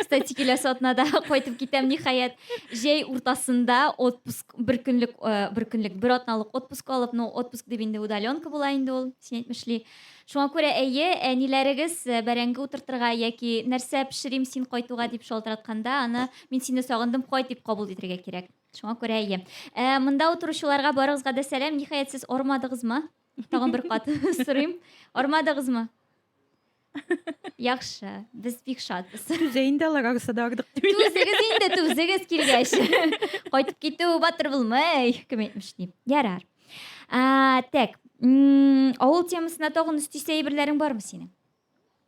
Кстати, киләсе атнада кайтып китәм ниһаять. Җәй уртасында отпуск бер көнлек ә, бер көнлек бер атналык отпуск алып, ну отпуск дип инде удаленка була инде ул, син әйтмешли. Шуңа күрә әйе, әниләрегез ә, бәрәңге утыртырга яки нәрсә пешерим син кайтуга дип шалтыратканда, аны мин сине сагындым, кайт дип кабул итәргә кирәк. Шуңа күрә әйе. Ә, монда утыручыларга барыгызга да сәлам. Ниһаять, сез ормадыгызмы? Тагын бер кат сорыйм. Ормадыгызмы? Яхшы, без бик шатбыз. Түзә инде алар арыса да ардык дип. Түзегез инде, түзегез килгәч. Кайтып китү батыр булмый, кем әйтмеш дип. Ярар. Ә, так, авыл темасына тагын өстисе әйберләрең бармы синең?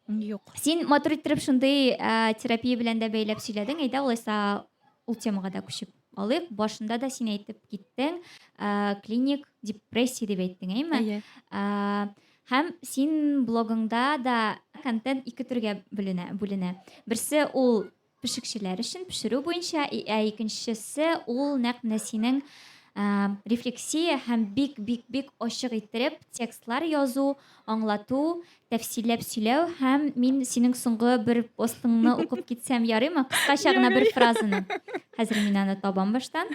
Юк. Син матур иттереп шундый ә, терапия белән дә бәйләп сөйләдең. Әйдә алайса ул темага да күчеп алыйк. Башында да син әйтеп киттең, ә, клиник депрессия дип әйттең, әйме? Әйе. Ә, һәм син блогыңда да контент ике төргә бүленә. бүленә. Берсе ул Пешекчеләр өчен пешерү буенча, ә икенчесе ул нәкъ менә синең рефлексия һәм бик-бик-бик ачык иттереп текстлар язу, аңлату, тәфсилләп сөйләү һәм мин синең соңгы бер постыңны укып китсәм ярыймы? Кыскача гына бер фразаны. Хәзер мин аны табам баштан.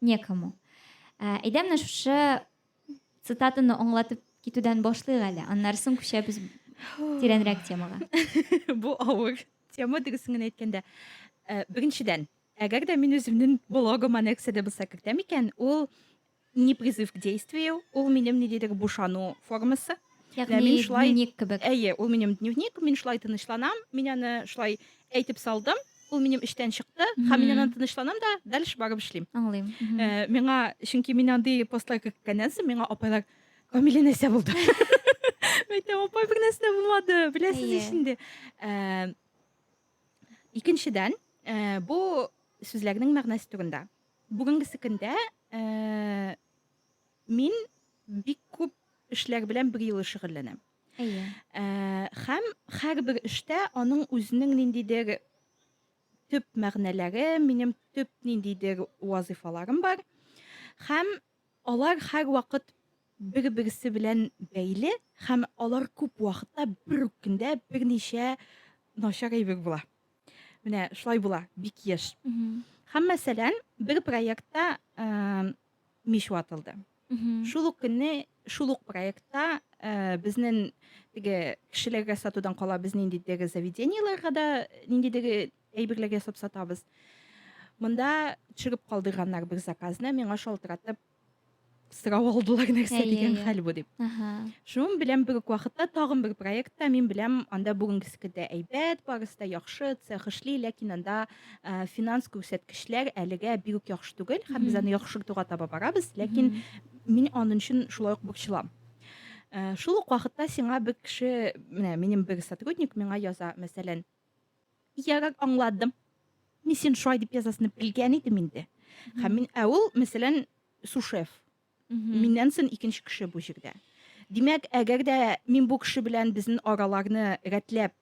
некому. Ә, әйдә менә шушы цитатаны аңлатып китүдән башлыйк әле, аннары соң күчәбез тирәнрәк темага. Бу авыр тема дөресен генә әйткәндә. Ә, беренчедән, әгәр дә мин үземнең блогыма нәрсә дә булса кертәм икән, ул не призыв к действию, ул минем ниндидер бушану формасы. Ягъни мин шулай дневник кебек. Әйе, ул минем дневник, мин шулай тынычланам, мин аны шулай әйтеп салдым, ул минем эштән чыкты, һәм мин аннан тынычланам да, дальше барып эшлим. Аңлыйм. Э, миңа, чөнки мин андый постлар керткәннән соң, миңа апайлар, Камилә нәрсә булды? Мәйтә, апай бер нәрсә дә булмады, беләсез ич инде. Э, икенчедән, э, бу сүзләрнең мәгънәсе турында. Бүгенгесе көндә Мин бик күп эшләр белән бер юлы шөгыльләнәм. Әйе. Ә, һәм һәрбер эштә аның үзенең ниндидер төп мәгънәләре, минем төп ниндидер вазифаларым бар. Һәм алар һәр вакыт бер-берсе белән бәйле һәм алар күп вакытта бер үк көндә берничә начар әйбер була. Менә шулай була, бик еш. Һәм мәсәлән, бер проектта мич ватылды. Шул ук көнне, шул ук проектта э, безнен теге кешеләргә сатудан кала без ниндидеге заведениеларга да ниндидеге әйберләргә ясап сатабыз. Монда төшереп калдырганнар бер заказны, миңа шалтыратып сорап алдылар нәрсә дигән хәл бу дип. Шуның белән бер үк вакытта тагын бер проектта мин беләм, анда бүгенгесе дә әйбәт, барысы да яхшы, цех эшли, ләкин анда ә, финанс күрсәткечләр әлегә бик үк яхшы түгел һәм без аны яхшыртуга таба барабыз ләкин мин аның өчен шулай ук борчылам ә, шул ук вакытта сиңа бер кеше менә минем бер сотрудник миңа яза мәсәлән ярар аңладым мин син шулай дип язасыңны белгән идем инде һәм мин ә ул мәсәлән сушеф миннән соң икенче кеше бу җирдә димәк әгәр дә мин бу кеше белән безнең араларны рәтләп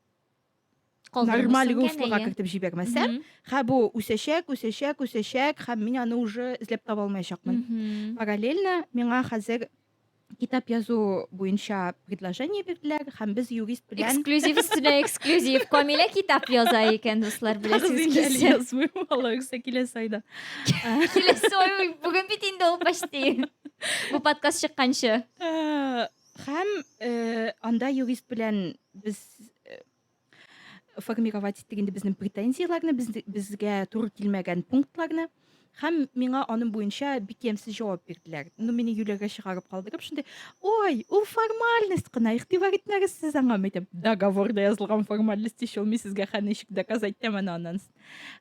нормаль руслога кертеп җибәрмәсәм хә бу үсәчәк үсәчәк үсәчәк һәм мин аны уже эзләп таба алмаячакмын параллельно миңа хәзер китап язу буенча предложение бирделәр һәм без юрист белән эксклюзив өстенә эксклюзив камилә китап яза икән дуслар беләсез килсә язмыйм алла үксә киләсе айда киләсе ай бүген бит инде ул почти бу подкаст чыкканчы Һәм анда юрист белән без формировать иттек инде безнең претензияләрне, безгә туры килмәгән пунктларны һәм миңа аның буенча бик ямьсез җавап бирделәр. Ну, мине юләргә чыгарып калдырып, шундый, ой, ул формальность кына, игътибар итмәгез сез аңа, мәйтәм, договорда язылган формальность ишел, мин сезгә хәничек доказать итәм аны аннан.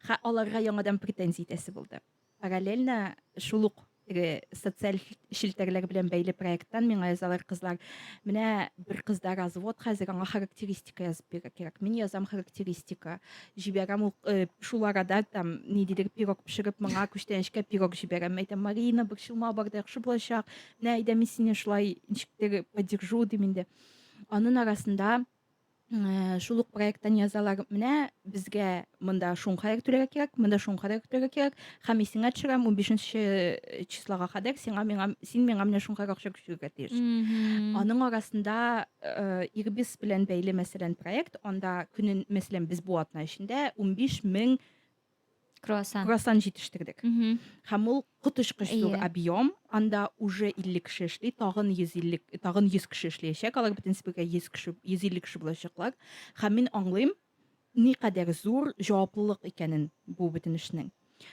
Ха, аларга яңадан претензия итәсе булды. Параллельно шул ук теге социаль челтәрләр белән бәйле проекттан миңа язалар кызлар. Менә бер кызда развод хәзер, аңа характеристика язып бирә кирәк. Мин язам характеристика. Җибәрәм ул э, шул арада там ниндидер пирог пешереп, моңа күчтәнәчкә пирог җибәрәм. Мен әйтәм, Марина, борчылма, бар да яхшы булачак. Менә әйдә мин сине шулай ничектер поддержу дим инде. Анын арасында Э, шул ук проекттан язалар менә безгә монда шуңхарәк түләргә кирәк монда шуңхарәк түләргә кирәк һәм исеңә төшерәм унбишенче э, числога кадәр сиңа миңа син миңа менә шуңхарәк акча күчерергә тиеш аның арасында э, ирбис белән бәйле мәсәлән проект анда көнен мәсәлән без бу атна эчендә унбиш мең круассан круассан җитештердек һәм ул коточкыч зур объем анда уже илле кеше эшли тагын йөз илле тагын йөз кеше эшләячәк алар бөтенесе бергә йөз кеше йөз илле кеше булачаклар һәм мин аңлыйм никадәр зур җаваплылык икәнен бу бөтен эшнең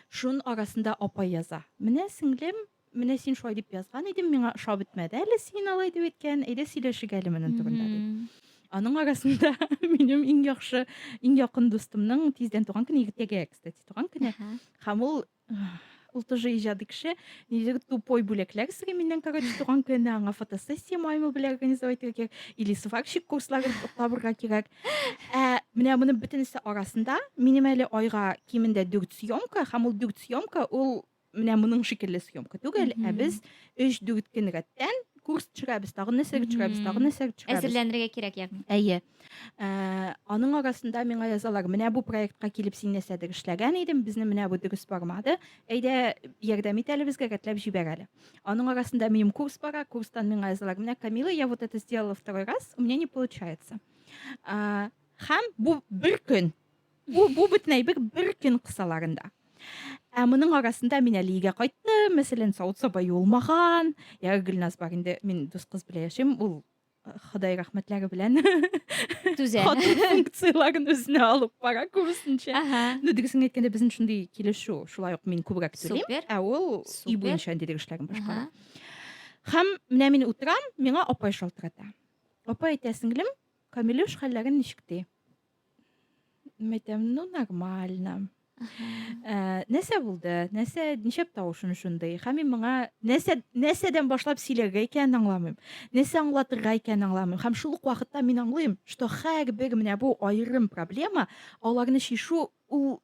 шун арасында апа яза менә сеңлем Менә син шулай дип язган идең, миңа ошап бетмәде әле син алай дип әйткән, әйдә сөйләшик әле моның турында ди. Аның арасында минем иң яхшы, иң якын дустымның тиздән туган көне иртәгә, кстати, туган көне. Һәм ул ул тоже иҗади кеше нидер тупой бүләкләр сыйрый миннән короче туган көне аңа фотосессия маймыл белән организовать итәргә кирәк или сварщик курсларын табырга кирәк ә менә моны бөтенесе арасында минем әле айга кимендә дүрт съемка һәм ул дүрт съемка ул Менә моның шикелле съемка түгел, ә без 3-4 көн рәттән курс төшерәбез, тагын нәрсәгә төшерәбез, тагын нәрсәгә төшерәбез. Әзерләнергә кирәк ягъни. Әйе. Ә, аның арасында миңа язалар, менә бу проектка килеп син нәрсәдер эшләгән идең, безне менә бу дөрес бармады. Әйдә, ярдәм ит әле безгә, рәтләп җибәр әле. Аның арасында минем курс бара, курстан миңа язалар, менә Камила, я вот это сделала второй раз, у меня не получается. Ә, һәм бу бер көн Бу, бу бөтен әйбер бер көн кысаларында. Ә моның арасында мин әле өйгә кайттым, мәсәлән, савыт саба юылмаган. Я Гөлназ бар инде, мин дус кыз белән яшим, ул э, Ходай рәхмәтләре белән түзә. Хатын функцияләрен үзенә алып бара күбесенчә. Ага. Ну, дөресен әйткәндә, безнең шундый килешү. Шулай ук мин күбрәк түлим, ә ул өй буенча андый эшләрен башкара. Һәм менә мин утырам, миңа апай шалтырата. Апай әйтә, сеңлем, Камилюш хәлләрен ничек ди? Мәйтәм, ну, нормально. Э, нәрсә булды? Нәрсә, ничәп тавышын шундый? Һәм мин моңа нәрсә, нәрсәдән башлап сөйләргә икәнен аңламыйм. Нәрсә аңлатырга икәнен аңламыйм. Һәм шул ук вакытта мин аңлыйм, что һәрбер менә бу аерым проблема, аларны чишу ул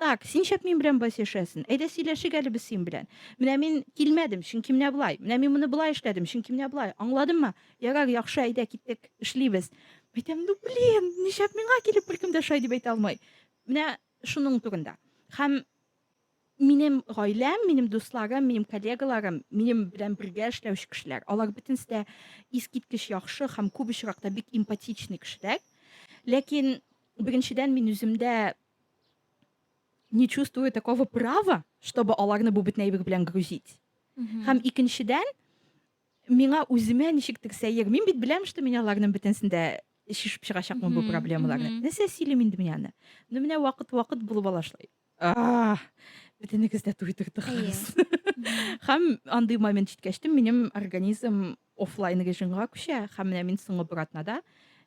Так, син шәп мин белән болай сөйләшәсен. Әйдә сөйләшик әле без син белән. Менә мин килмәдем, чөнки менә болай. Менә мин моны болай эшләдем, чөнки менә болай. Аңладыңмы? Ярар, яхшы, әйдә киттек, эшлибез. Әйтәм, ну блин, нишләп миңа килеп беркем дә шулай дип әйтә алмый. Менә шуның турында. Һәм минем гаиләм, минем дусларым, минем коллегаларым, минем белән бергә эшләүче кешеләр, алар бөтенесе дә искиткеч яхшы һәм күп очракта бик эмпатичный кешеләр. Ләкин беренчедән мин үземдә не чувствую такого права, чтобы аларны бу бетнәйбек белән грузить. Һәм икенчедән, миңа үземә ничектер сәер. Мин бит беләм, что мин аларның бөтенсен дә шешеп чыгачакмын бу проблемаларны. Нәрсә сөйлим инде мин аны? Ну менә вакыт-вакыт булып ала шулай. Бөтенегез дә туйдырдык. Һәм андый момент җиткәч, минем организм офлайн режимга күчә. Һәм менә мин соңгы братнада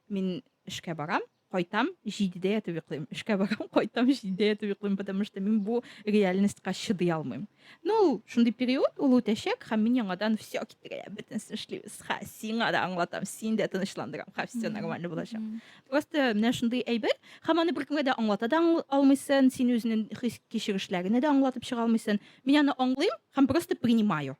мин эшкә барам. кайтам, җидедә ятып йоклыйм. Эшкә барам, кайтам, җидедә ятып йоклыйм, потому что мин бу реальностька чыдый алмыйм. Ну, ул шундый период, ул үтәчәк, һәм мин яңадан все китерә, бөтенесен эшлибез. Ха, сиңа да аңлатам, син дә тынычландырам, ха, все нормально булачак. Просто менә шундый әйбер, һәм аны беркемгә дә аңлата да алмыйсың, син үзенең хис кичерешләреңне дә аңлатып чыга алмыйсың. Мин аны аңлыйм һәм просто принимаю.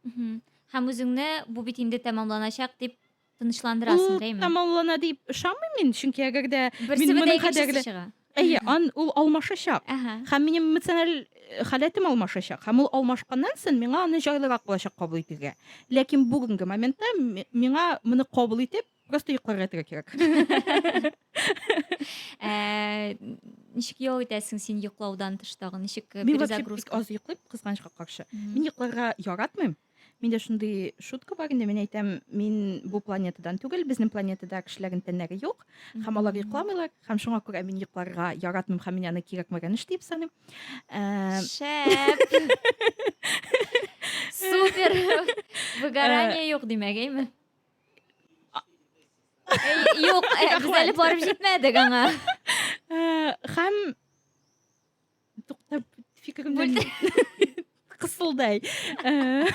Һәм үзеңне бу бит инде тәмамланачак дип Тынычландырасың, Ул дәйме? тамамлана дип ышанмыйм мин, чөнки әгәр дә Берсе мин бетә, моның икенчесе кадәрле чыга. Әйе, ан ул алмашачак. Әһә. Һәм минем эмоциональ э, халәтем алмашачак. Һәм ул алмашканнан соң миңа аны җайлырак булачак кабул итергә. Ләкин бүгенге моментта ми- миңа моны кабул итеп, просто йокларга ятырга кирәк. Ә, Ничек ял итәсең син йоклаудан тыш тагын? Ничек э, Мин вообще бик перезагрузка? аз йоклыйм, кызганычка каршы. Мгм. Мин йокларга яратмыйм. Миндә шундый шутка бар инде, мин әйтәм, мин бу планетадан түгел, безнең планетада кешеләрнең тәннәре юк, һәм алар йокламыйлар, һәм шуңа күрә мин йокларга яратмыйм һәм мин аны кирәкмәгән эш дип саныйм. Ә, Шәп! Супер! Выгорание юк димәк, әйме? Әй, Юк, ә, без әле барып җитмәдек аңа. Ә, Һәм Туктап фикеремдән кысылдай. Э,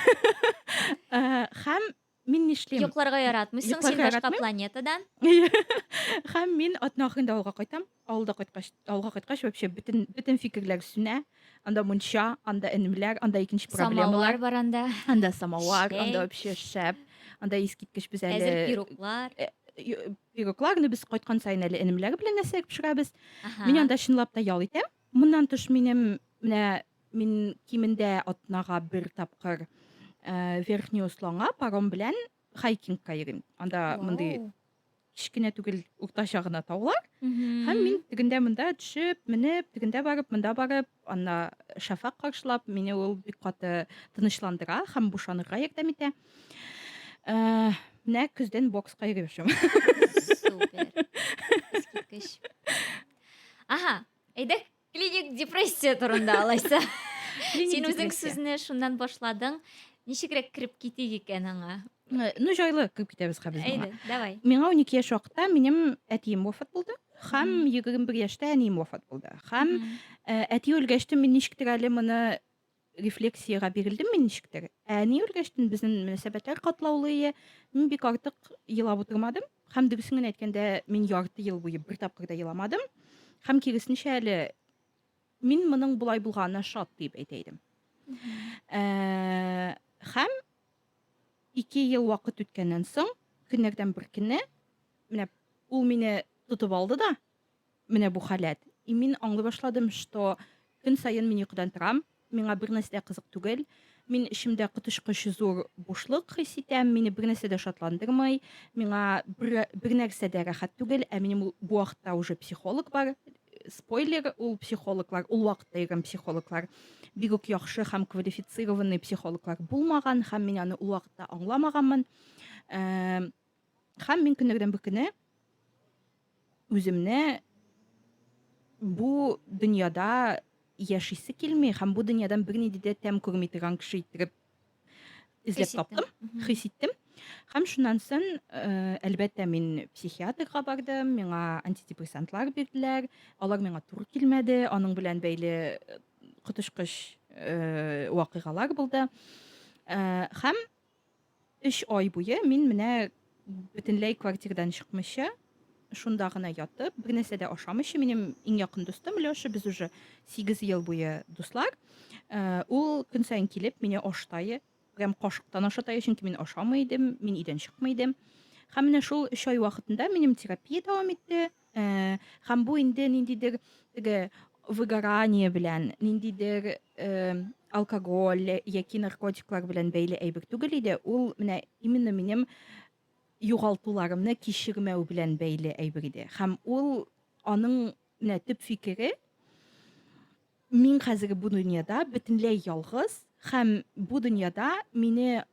э, һәм мин нишлим? Йокларга яратмыйсың, син башка планетадан. Һәм мин атна ахырында авылга кайтам. Авылда кайткач, авылга кайткач вообще бөтен бөтен фикерләр сүнә. Анда мунча, анда энемләр, анда икенче проблемалар. Самовар бар анда. Анда самовар, анда вообще шәп. Анда искиткеч без әле. Әзер пироглар. Э, Пирогларны без кайткан саен әле энемләр белән нәрсәләр пешерәбез. Мин анда чынлап та ял итәм. Моннан тыш минем менә мин кимендә атнага бер тапкыр э, Верхний Усланга паром белән хайкингка йөрим. Анда мондый кечкенә түгел, уртача гына таулар. Һәм мин тегендә монда төшеп, менеп, тегендә барып, монда барып, Анна шәфәкъ каршылап, мине ул бик каты тынычландыра һәм бушанырга ярдәм итә. Ә, менә көздән бокска йөреп яшим. Супер. Искиткеч. Ага, әйдәк клиник депрессия турында алайса. Син үзең сүзне шуннан башладың. Ничегрәк кереп китик икән аңа? Э, ну жайлы кирип китәбез хәбез әйдә давай миңа унике яшь вакытта минем әтием вафат булды һәм егерме бер яшьтә әнием вафат булды һәм э, әти үлгәчтен мин ничектер әле моны рефлексиягә бирелдем мин ничектер ә әни үлгәчтен безнең мөнәсәбәтләр катлаулы ие мин бик артык елап утырмадым һәм дөресен генә әйткәндә мин ярты ел буе бер тапкыр да еламадым һәм киресенчә әле мин моның болай булганына шат дип әйтә идем э, һәм Ике ел вакыт үткәннән соң, көннәрдән бер көнне, менә ул мине тотып алды да, менә бу халәт. И мин аңлый башладым, что көн саен мин йокыдан торам, миңа бернәрсә дә кызык түгел, мин эчемдә коточкыч зур бушлык хис итәм, мине бернәрсә дә шатландырмый, миңа бер бернәрсә дә рәхәт түгел, ә минем бу вакытта уже психолог бар, спойлер ул психологлар ул вакытта йөргән психологлар бик үк яхшы һәм квалифицированный психологлар булмаган һәм мин аны ул вакытта аңламаганмын э, һәм мин көннәрдән бер көне үземне бу дөньяда яшисе килми һәм бу дөньядан бернинди дә тәм күрми торган кеше иттереп эзләп таптым, хис иттем. Һәм шуннан соң, э, әлбәттә, мин психиатрга бардым, миңа антидепрессантлар бирделәр. Алар миңа туры килмәде, аның белән бәйле э, коточкыч э, вакыйгалар булды. Һәм 3 ай буе мин менә Бөтенләй квартирдан чыкмыйча, шунда гына ятып, бер нәрсә дә ашамыйча, минем иң якын дустым Лёша, без уже 8 ел буе дуслар. Э, ул көн саен килеп, мине аштайы, прям кашыктан ашатайы, чөнки мин ашамый идем, мин өйдән чыкмый идем. Һәм менә шул 3 ай вакытында минем терапия дәвам итте. Ә, һәм бу инде ниндидер теге выгорание белән, ниндидер э, алкоголь яки наркотиклар белән бәйле әйбер түгел иде. Ул менә именно минем югалтуларымны кичермәү белән бәйле әйбер иде. Һәм ул аның менә төп фикере Мин хәзерге бу дөньяда бөтенләй ялгыз һәм бу дөньяда мине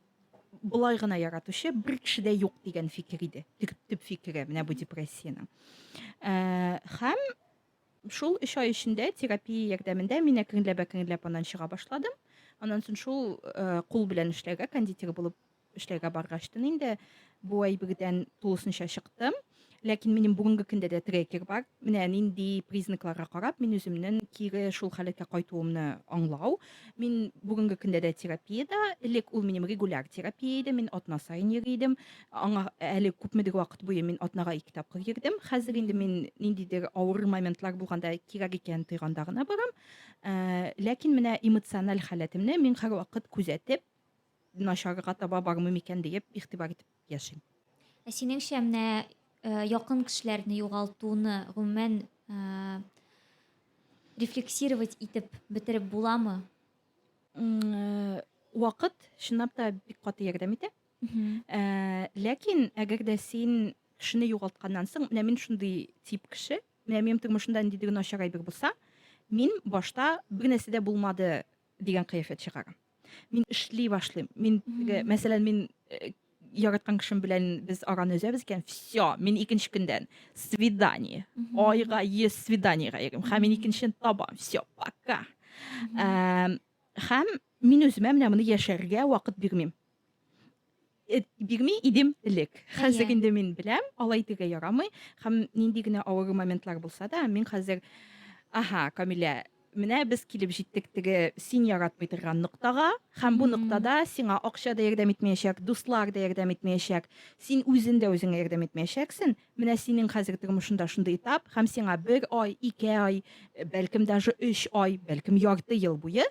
болай гына яратучы бер кеше дә юк дигән фикер иде. Төп фикере менә бу депрессиянең. Э, һәм шул 3 ай эчендә терапия ярдәмендә мин әкренләп әкренләп аннан чыга башладым. Аннан соң шул э, кул белән эшләргә кондитер булып Эшләргә баргачтын инде бу әйбердән тулысынча чыктым. Ләкин минем бүгенге көндә дә трекер бар. Менә нинди признакларга карап мин үземнең кире шул халәткә кайтуымны аңлау. Мин бүгенге көндә дә терапиядә. Элек ул минем регуляр терапия иде. Мин атна саен йөри идем. Аңа әле күпмедер вакыт буе мин атнага ике тапкыр йөрдем. Хәзер инде мин ниндидер авыр моментлар булганда кирәк икән тойганда гына барам. Э, ләкин менә эмоциональ халәтемне мин һәрвакыт күзәтеп, начарга таба бармый микән диеп игътибар итеп яшим. Ә синеңчә менә э, якын кешеләрне югалтуны гомумән э, рефлексировать итеп бетереп буламы? Э, вакыт чынлап та бик каты ярдәм итә. Э, ләкин әгәр дә син кешене югалтканнан соң, менә мин шундый тип кеше, менә минем тормышымда ниндидер начар әйбер булса, мин башта бер нәрсә дә булмады дигән кыяфәт чыгарам. мин эшли башлыйм мин мәсәлән мин э, яраткан кешем белән без араны өзәбез икән все мин икенче көндән свидание айга йөз свиданиега йөрим һәм мин икенчен табам все пока һәм мин үземә менә моны яшәргә вакыт бирмим Э, бирми идем элек хәзер әйе. инде мин беләм алай тегә ярамый һәм нинди генә авыр моментлар булса да мин хәзер аһа камилә менә без килеп җиттек теге син яратмый торган ноктага һәм бу ноктада сиңа акча да ярдәм итмәячәк дуслар да ярдәм итмәячәк син үзен дә үзеңә ярдәм итмәячәксең менә синең хәзер тормышында шундый этап һәм сиңа бер ай ике ай бәлкем даже өч ай бәлкем ярты ел буе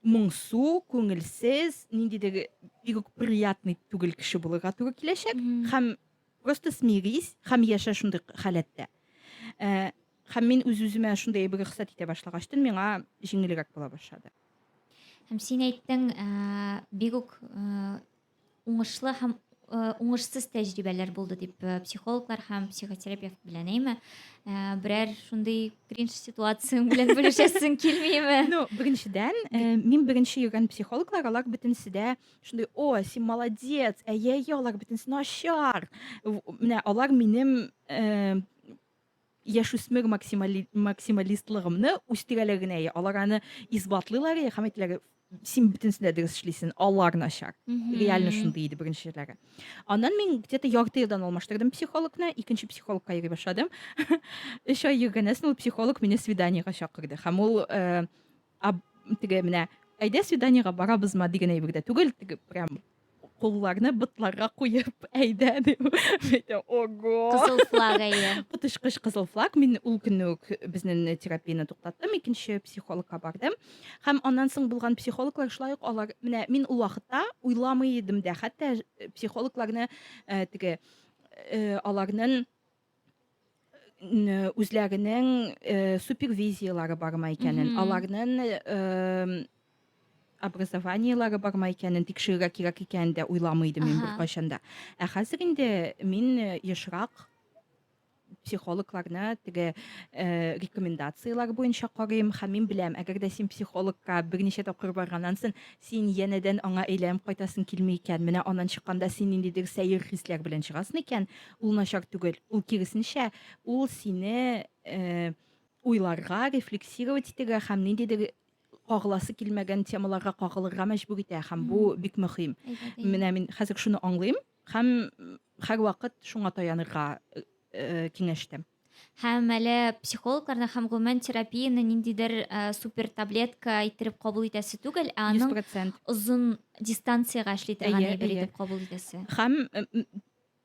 моңсу, күңелсез, ниндидер бик үк приятный түгел кеше булырга туры киләчәк һәм просто смирись һәм яшә шундый халәттә. Э, һәм мин үз-үземә шундый әйбер рөхсәт итә башлагачтын, миңа җиңелрәк була башлады. Һәм син әйттең, э, бик үк э, уңышлы һәм э, уңышсыз тәҗрибәләр булды дип э, психологлар һәм психотерапевт белән әйме э, берәр шундый кринж ситуацияң белән бүлешәсең килмиме ну беренчедән мин беренче йөргән психологлар алар бөтенесе дә шундый о син молодец әйе әйе алар бөтенесе начар менә алар минем яшүсмер максимали, максималистлыгымны үстерәләр генә я алар аны исбатлыйлар я һәм әйтәләр син бөтенесендә дөрес эшлисең алар начар реально шундый иде беренчеләре аннан мин где то ярты елдан алмаштырдым психологны икенче психологка йөри башладым өч ай йөргәннән соң ул психолог мине свиданиега чакырды һәм ул э, Ә теге менә әйдә свиданиега барабызма дигән әйбер дә түгел, теге прям кулларны ботларга куеп әйдә дип әйтә. Ого! Кызыл флаг әйе. Котышкыч кызыл флаг. Мин ул көнне үк безнең терапияне туктаттым, икенче психологка бардым. Һәм аннан соң булган психологлар шулай ук алар менә мин ул вакытта уйламый идем дә, хәтта психологларны э, теге э, аларның үзләренең супервизияләре бармы икәнен, аларның образованиеләре бармы икәнен тикшерергә кирәк икәнен дә уйламый идем мин беркайчан да. Ә хәзер инде мин ешрак психологларны теге э, рекомендацияләр буенча карыйм һәм мин беләм әгәр дә син психологка берничә тапкыр барганнан соң син янәдән аңа әйләнеп кайтасың килми икән менә аннан чыкканда син ниндидер сәер хисләр белән чыгасың икән Ул начар түгел. Ул киресенчә, ул сине э, уйларга, рефлексировать итәргә һәм ниндидер кагыласы килмәгән темаларга кагылырга мәҗбүр итә һәм бу бик мөһим. Менә мин хәзер шуны аңлыйм һәм һәрвакыт шуңа таянырга э, э, киңәш итәм. Һәм әле психологларны һәм гомумән терапияны ниндидер э, супер таблетка иттереп кабул итәсе түгел, ә аның 100%. озын дистанциягә эшли торган Әйе, әйбер әйе. итеп кабул итәсе. Һәм э, м,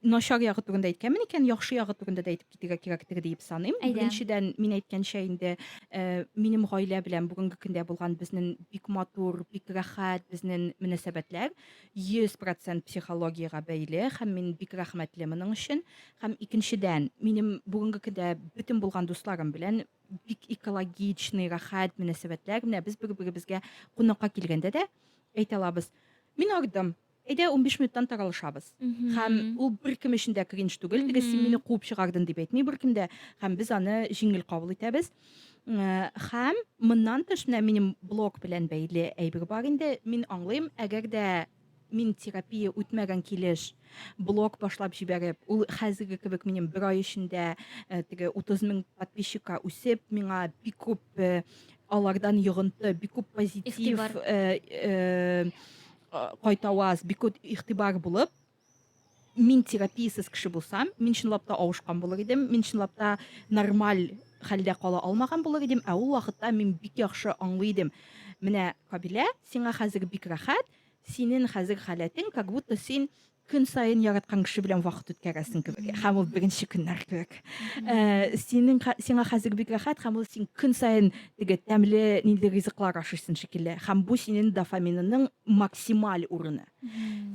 Начар ягы турында әйткәнмен икән, яхшы ягы турында да әйтеп китергә кирәктер диеп саныйм. Әйдә. Беренчедән, мин әйткәнчә инде, э, минем гаилә белән бүгенге көндә булган безнең бик матур, бик рәхәт безнең мөнәсәбәтләр 100% психологиягә бәйле һәм мин бик рәхмәтле моның өчен. Һәм икенчедән, минем бүгенге көндә бөтен булган дусларым белән бик экологичный, рәхәт мөнәсәбәтләр. Менә без бер-беребезгә кунакка килгәндә дә әйтә алабыз. Мин ардым. Әйдә, унбиш минуттан таралышабыз. Һәм ул беркем өчен дә кринж түгел, теге син мине куып чыгардың дип әйтми беркем дә, һәм без аны җиңел кабул итәбез. Һәм моннан тыш менә минем блог белән бәйле әйбер бар инде, мин аңлыйм, әгәр дә мин терапия үтмәгән килеш блог башлап җибәреп, ул хәзерге кебек минем бер ай эчендә теге 30 мең подписчикка үсеп, миңа бик күп алардан йогынты, бик күп позитив, кайта ваз бик күп игътибар булып мин терапиясез кеше булсам мин чынлап та авышкан булыр идем мин чынлап та нормаль хәлдә кала алмаган булыр идем ә ул вакытта мин бик яхшы аңлый идем менә кабилә сиңа хәзер бик рәхәт синең хәзер халәтең как будто син Көн саен яраткан кеше белән вакыт үткәрәсең кебек. Һәм ул беренче көннәр кебек. Э, синең сиңа хәзер бик рәхәт һәм ул син көн саен теге тәмле нинди ризыклар ашыйсың шикелле. Һәм бу синең дофаминының максималь урыны.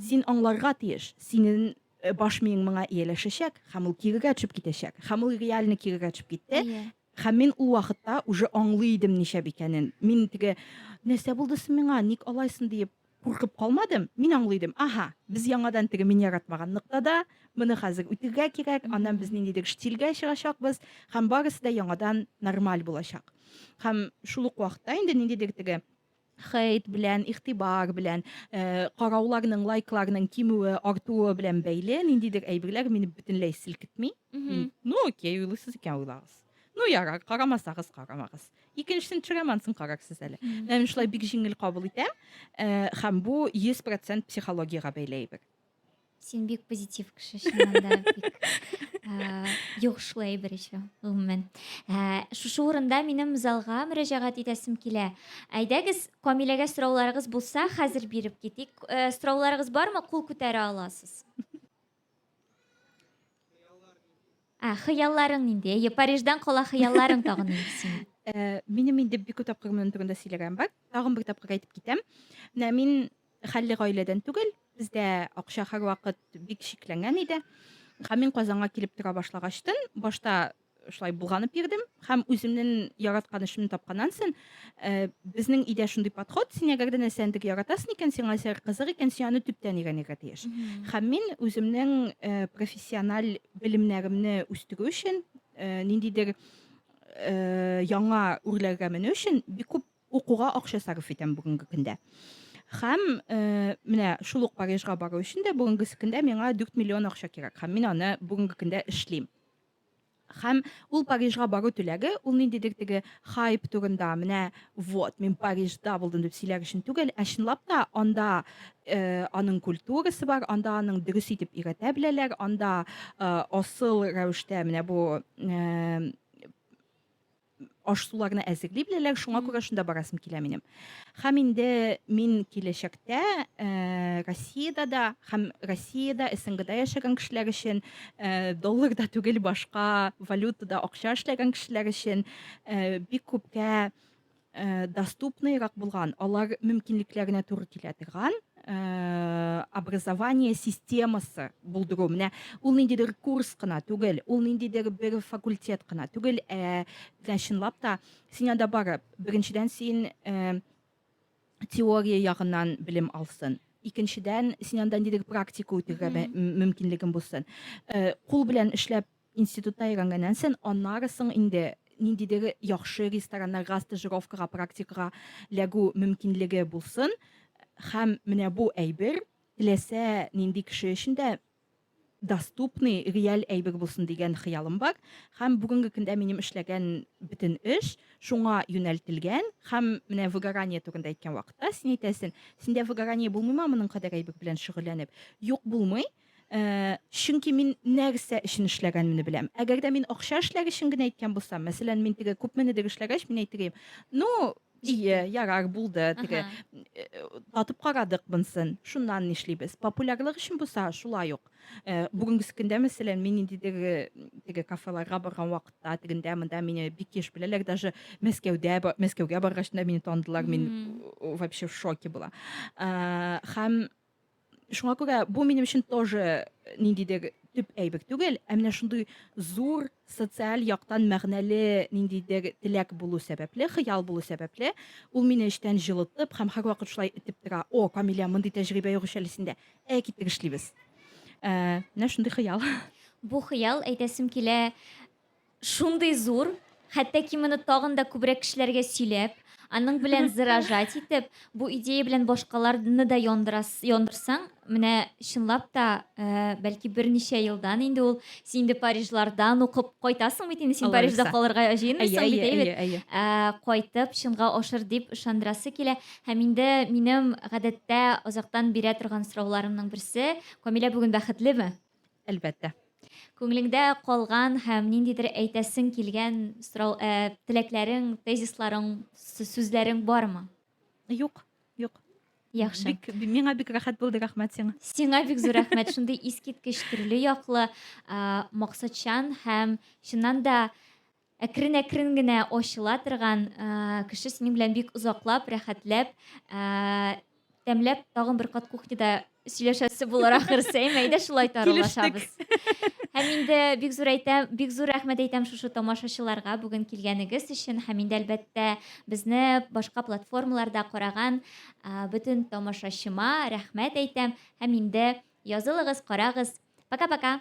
Син аңларга тиеш, синең э, баш миең моңа ияләшәчәк һәм ул кирегә төшеп китәчәк. Һәм ул реально кирегә төшеп китте. Әйе. Һәм мин ул вакытта уже аңлый идем ничә икәнен. Мин теге нәрсә булды соң миңа, ник алайсың диеп Куркып калмадым, мин аңлый идем, аһа, без яңадан теге мин яратмаган ноктада, моны хәзер үтергә кирәк, аннан без ниндидер штильгә чыгачакбыз, һәм барысы да яңадан нормаль булачак. Һәм шул ук вакытта инде ниндидер теге хейт белән, игътибар белән, э, карауларның, лайкларның кимүе, артуы белән бәйле ниндидер әйберләр мине бөтенләй селкетми. Мин, ну окей, уйлыйсыз икән уйлагыз. Ну ярар, карамасагыз карамагыз. Икенчесен төшерәм, сын карарсыз әле. Менә мин шулай бик җиңел кабул итәм, э, һәм бу 100% психологиягә бәйле әйбер. Син бик позитив кеше, чыннан да бик э, йогышлы әйбер еще, гомумән. Э, Шушы урында минем залга мөрәҗәгать итәсем килә. Әйдәгез, Камиләгә сорауларыгыз булса, хәзер биреп китик. Э, Сорауларыгыз бармы? Кул күтәрә аласыз. Ә, хыялларың нинди? Әйе, Париждан кала хыялларың тагын нинди синең? Ә, минем инде бик күп тапкыр моның турында сөйләгән бар. Тагын бер тапкыр әйтеп китәм. Менә мин хәлле гаиләдән түгел. Бездә акча һәрвакыт бик шикләнгән иде. Һәм мин Казанга килеп тора башлагачтын, башта шулай булганып бирдем һәм үземнең яраткан эшемне тапканнан соң э, безнең өйдә шундый подход син әгәр дә нәрсәне яратасың икән сиңа әсәр кызык икән син аны төптән өйрәнергә тиеш һәм мин үземнең э, профессиональ белемнәремне үстерү өчен э, ниндидер э, яңа үрләргә менү өчен бик күп укуга акча сарыф итәм бүгенге көндә һәм э, менә шул ук парижга бару өчен дә бүгенге көндә миңа дүрт миллион акча кирәк һәм мин аны бүгенге көндә эшлим Һәм ул Парижга бару теләге, ул ниндидер теге хайп турында, менә вот, мин Парижда булдым дип сөйләр өчен түгел, ә чынлап та анда э, аның культурасы бар, анда аның дөрес итеп өйрәтә беләләр, анда э, асыл рәвештә менә бу э, аш-суларны әзерли беләләр, шуңа күрә шунда барасым килә минем. Хәм инде мин киләчәктә э, Россиядә дә, хәм Россиядә, СНГда яшәгән кешеләр өчен э, долларда түгел башка валютада акча эшләгән кешеләр өчен э, бик күпкә э, доступныйрак булган, алар мөмкинлекләренә туры килә торган Э, образование системасы булдыру менә ул ниндидер курс кына түгел ул ниндидер бер факультет кына түгел ә менә чынлап та син анда барып беренчедән син э, теория ягыннан белем алсын икенчедән син анда ниндидер практика үтергә мөмкинлегең булсын э, кул белән эшләп Институтта өйрәнгәннән сон, аннары соң инде ниндидер яхшы рестораннарга стажировкага, практикага ләгү мөмкинлеге булсын, һәм менә бу әйбер теләсә нинди кеше өчен дә доступный, реаль әйбер булсын дигән хыялым бар. Һәм бүгенге көндә минем эшләгән бөтен эш шуңа юнәлтелгән. Һәм менә выгорание турында әйткән вакытта, син әйтәсен, синдә выгорание булмыймы моның кадәр әйбер белән шөгыльләнеп? Юк, булмый. Ә, чөнки мин нәрсә өчен эшләгәнемне беләм. Әгәр дә мин акча эшләр өчен генә әйткән булсам, мәсәлән, мин теге күпменедер эшләгәч, мин әйтер идем, ну, ие, ярар, булды, теге, э, татып карадык монсын, шуннан нишлибез. Популярлык өчен булса, шулай ук. Э, бүгенгесе көндә, мәсәлән, мин ниндидер э, теге кафеларга барган вакытта, тегендә, монда мине бик еш беләләр, даже Мәскәүдә, Мәскәүгә баргач та мине таныдылар, мин вообще в шоке була. Э, һәм Шуңа күрә бу минем өчен тоже э, ниндидер төп әйбер түгел, ә менә шундый зур социаль яктан мәгънәле ниндидер теләк булу сәбәпле, хыял булу сәбәпле, ул мине эчтән җылытып һәм һәрвакыт шулай итеп тора. О, Камилә, мондый тәҗрибә юк әле синдә. Ә китер эшлибез. Ә, менә шундый хыял. Бу хыял әйтәсем килә, Шундый зур, хәтта ки моны тагын да күбрәк кешеләргә сөйләп, аның белән зыражать итеп, бу идея белән башкаларны да яндырас, яндырсаң, менә чынлап та, бәлки берничә елдан инде ул, син инде Парижлардан укып кайтасың бит инде, син Парижда калырга җыенмыйсың бит, әйбәт, кайтып чынга ашыр дип ышандырасы килә. Һәм инде минем гадәттә озактан бирә торган сорауларымның берсе, Камилә бүген бәхетлеме? Әлбәттә. Күңелеңдә калган һәм ниндидер әйтәсең килгән сорау, ә, теләкләрең, тезисларың, сүзләрең бармы? Юк, юк. Яхшы. Бик, миңа бик рәхәт булды, рәхмәт сиңа. Сиңа бик зур рәхмәт. Шундый искиткеч төрле яклы, максатчан һәм чыннан да Әкрен-әкрен генә ачыла торган кеше синең белән бик озаклап, рәхәтләп, тәмләп, тагын бер кат кухняда сөйләшәсе булыр ахырсы. Әйме, әйдә шулай таралашабыз. Һәм инде бик зур әйтәм, бик зур рәхмәт әйтәм шушы тамашачыларга бүген килгәнегез өчен һәм инде әлбәттә безне башка платформаларда караган бөтен тамашачыма рәхмәт әйтәм һәм инде язылыгыз, карагыз. Пока-пока.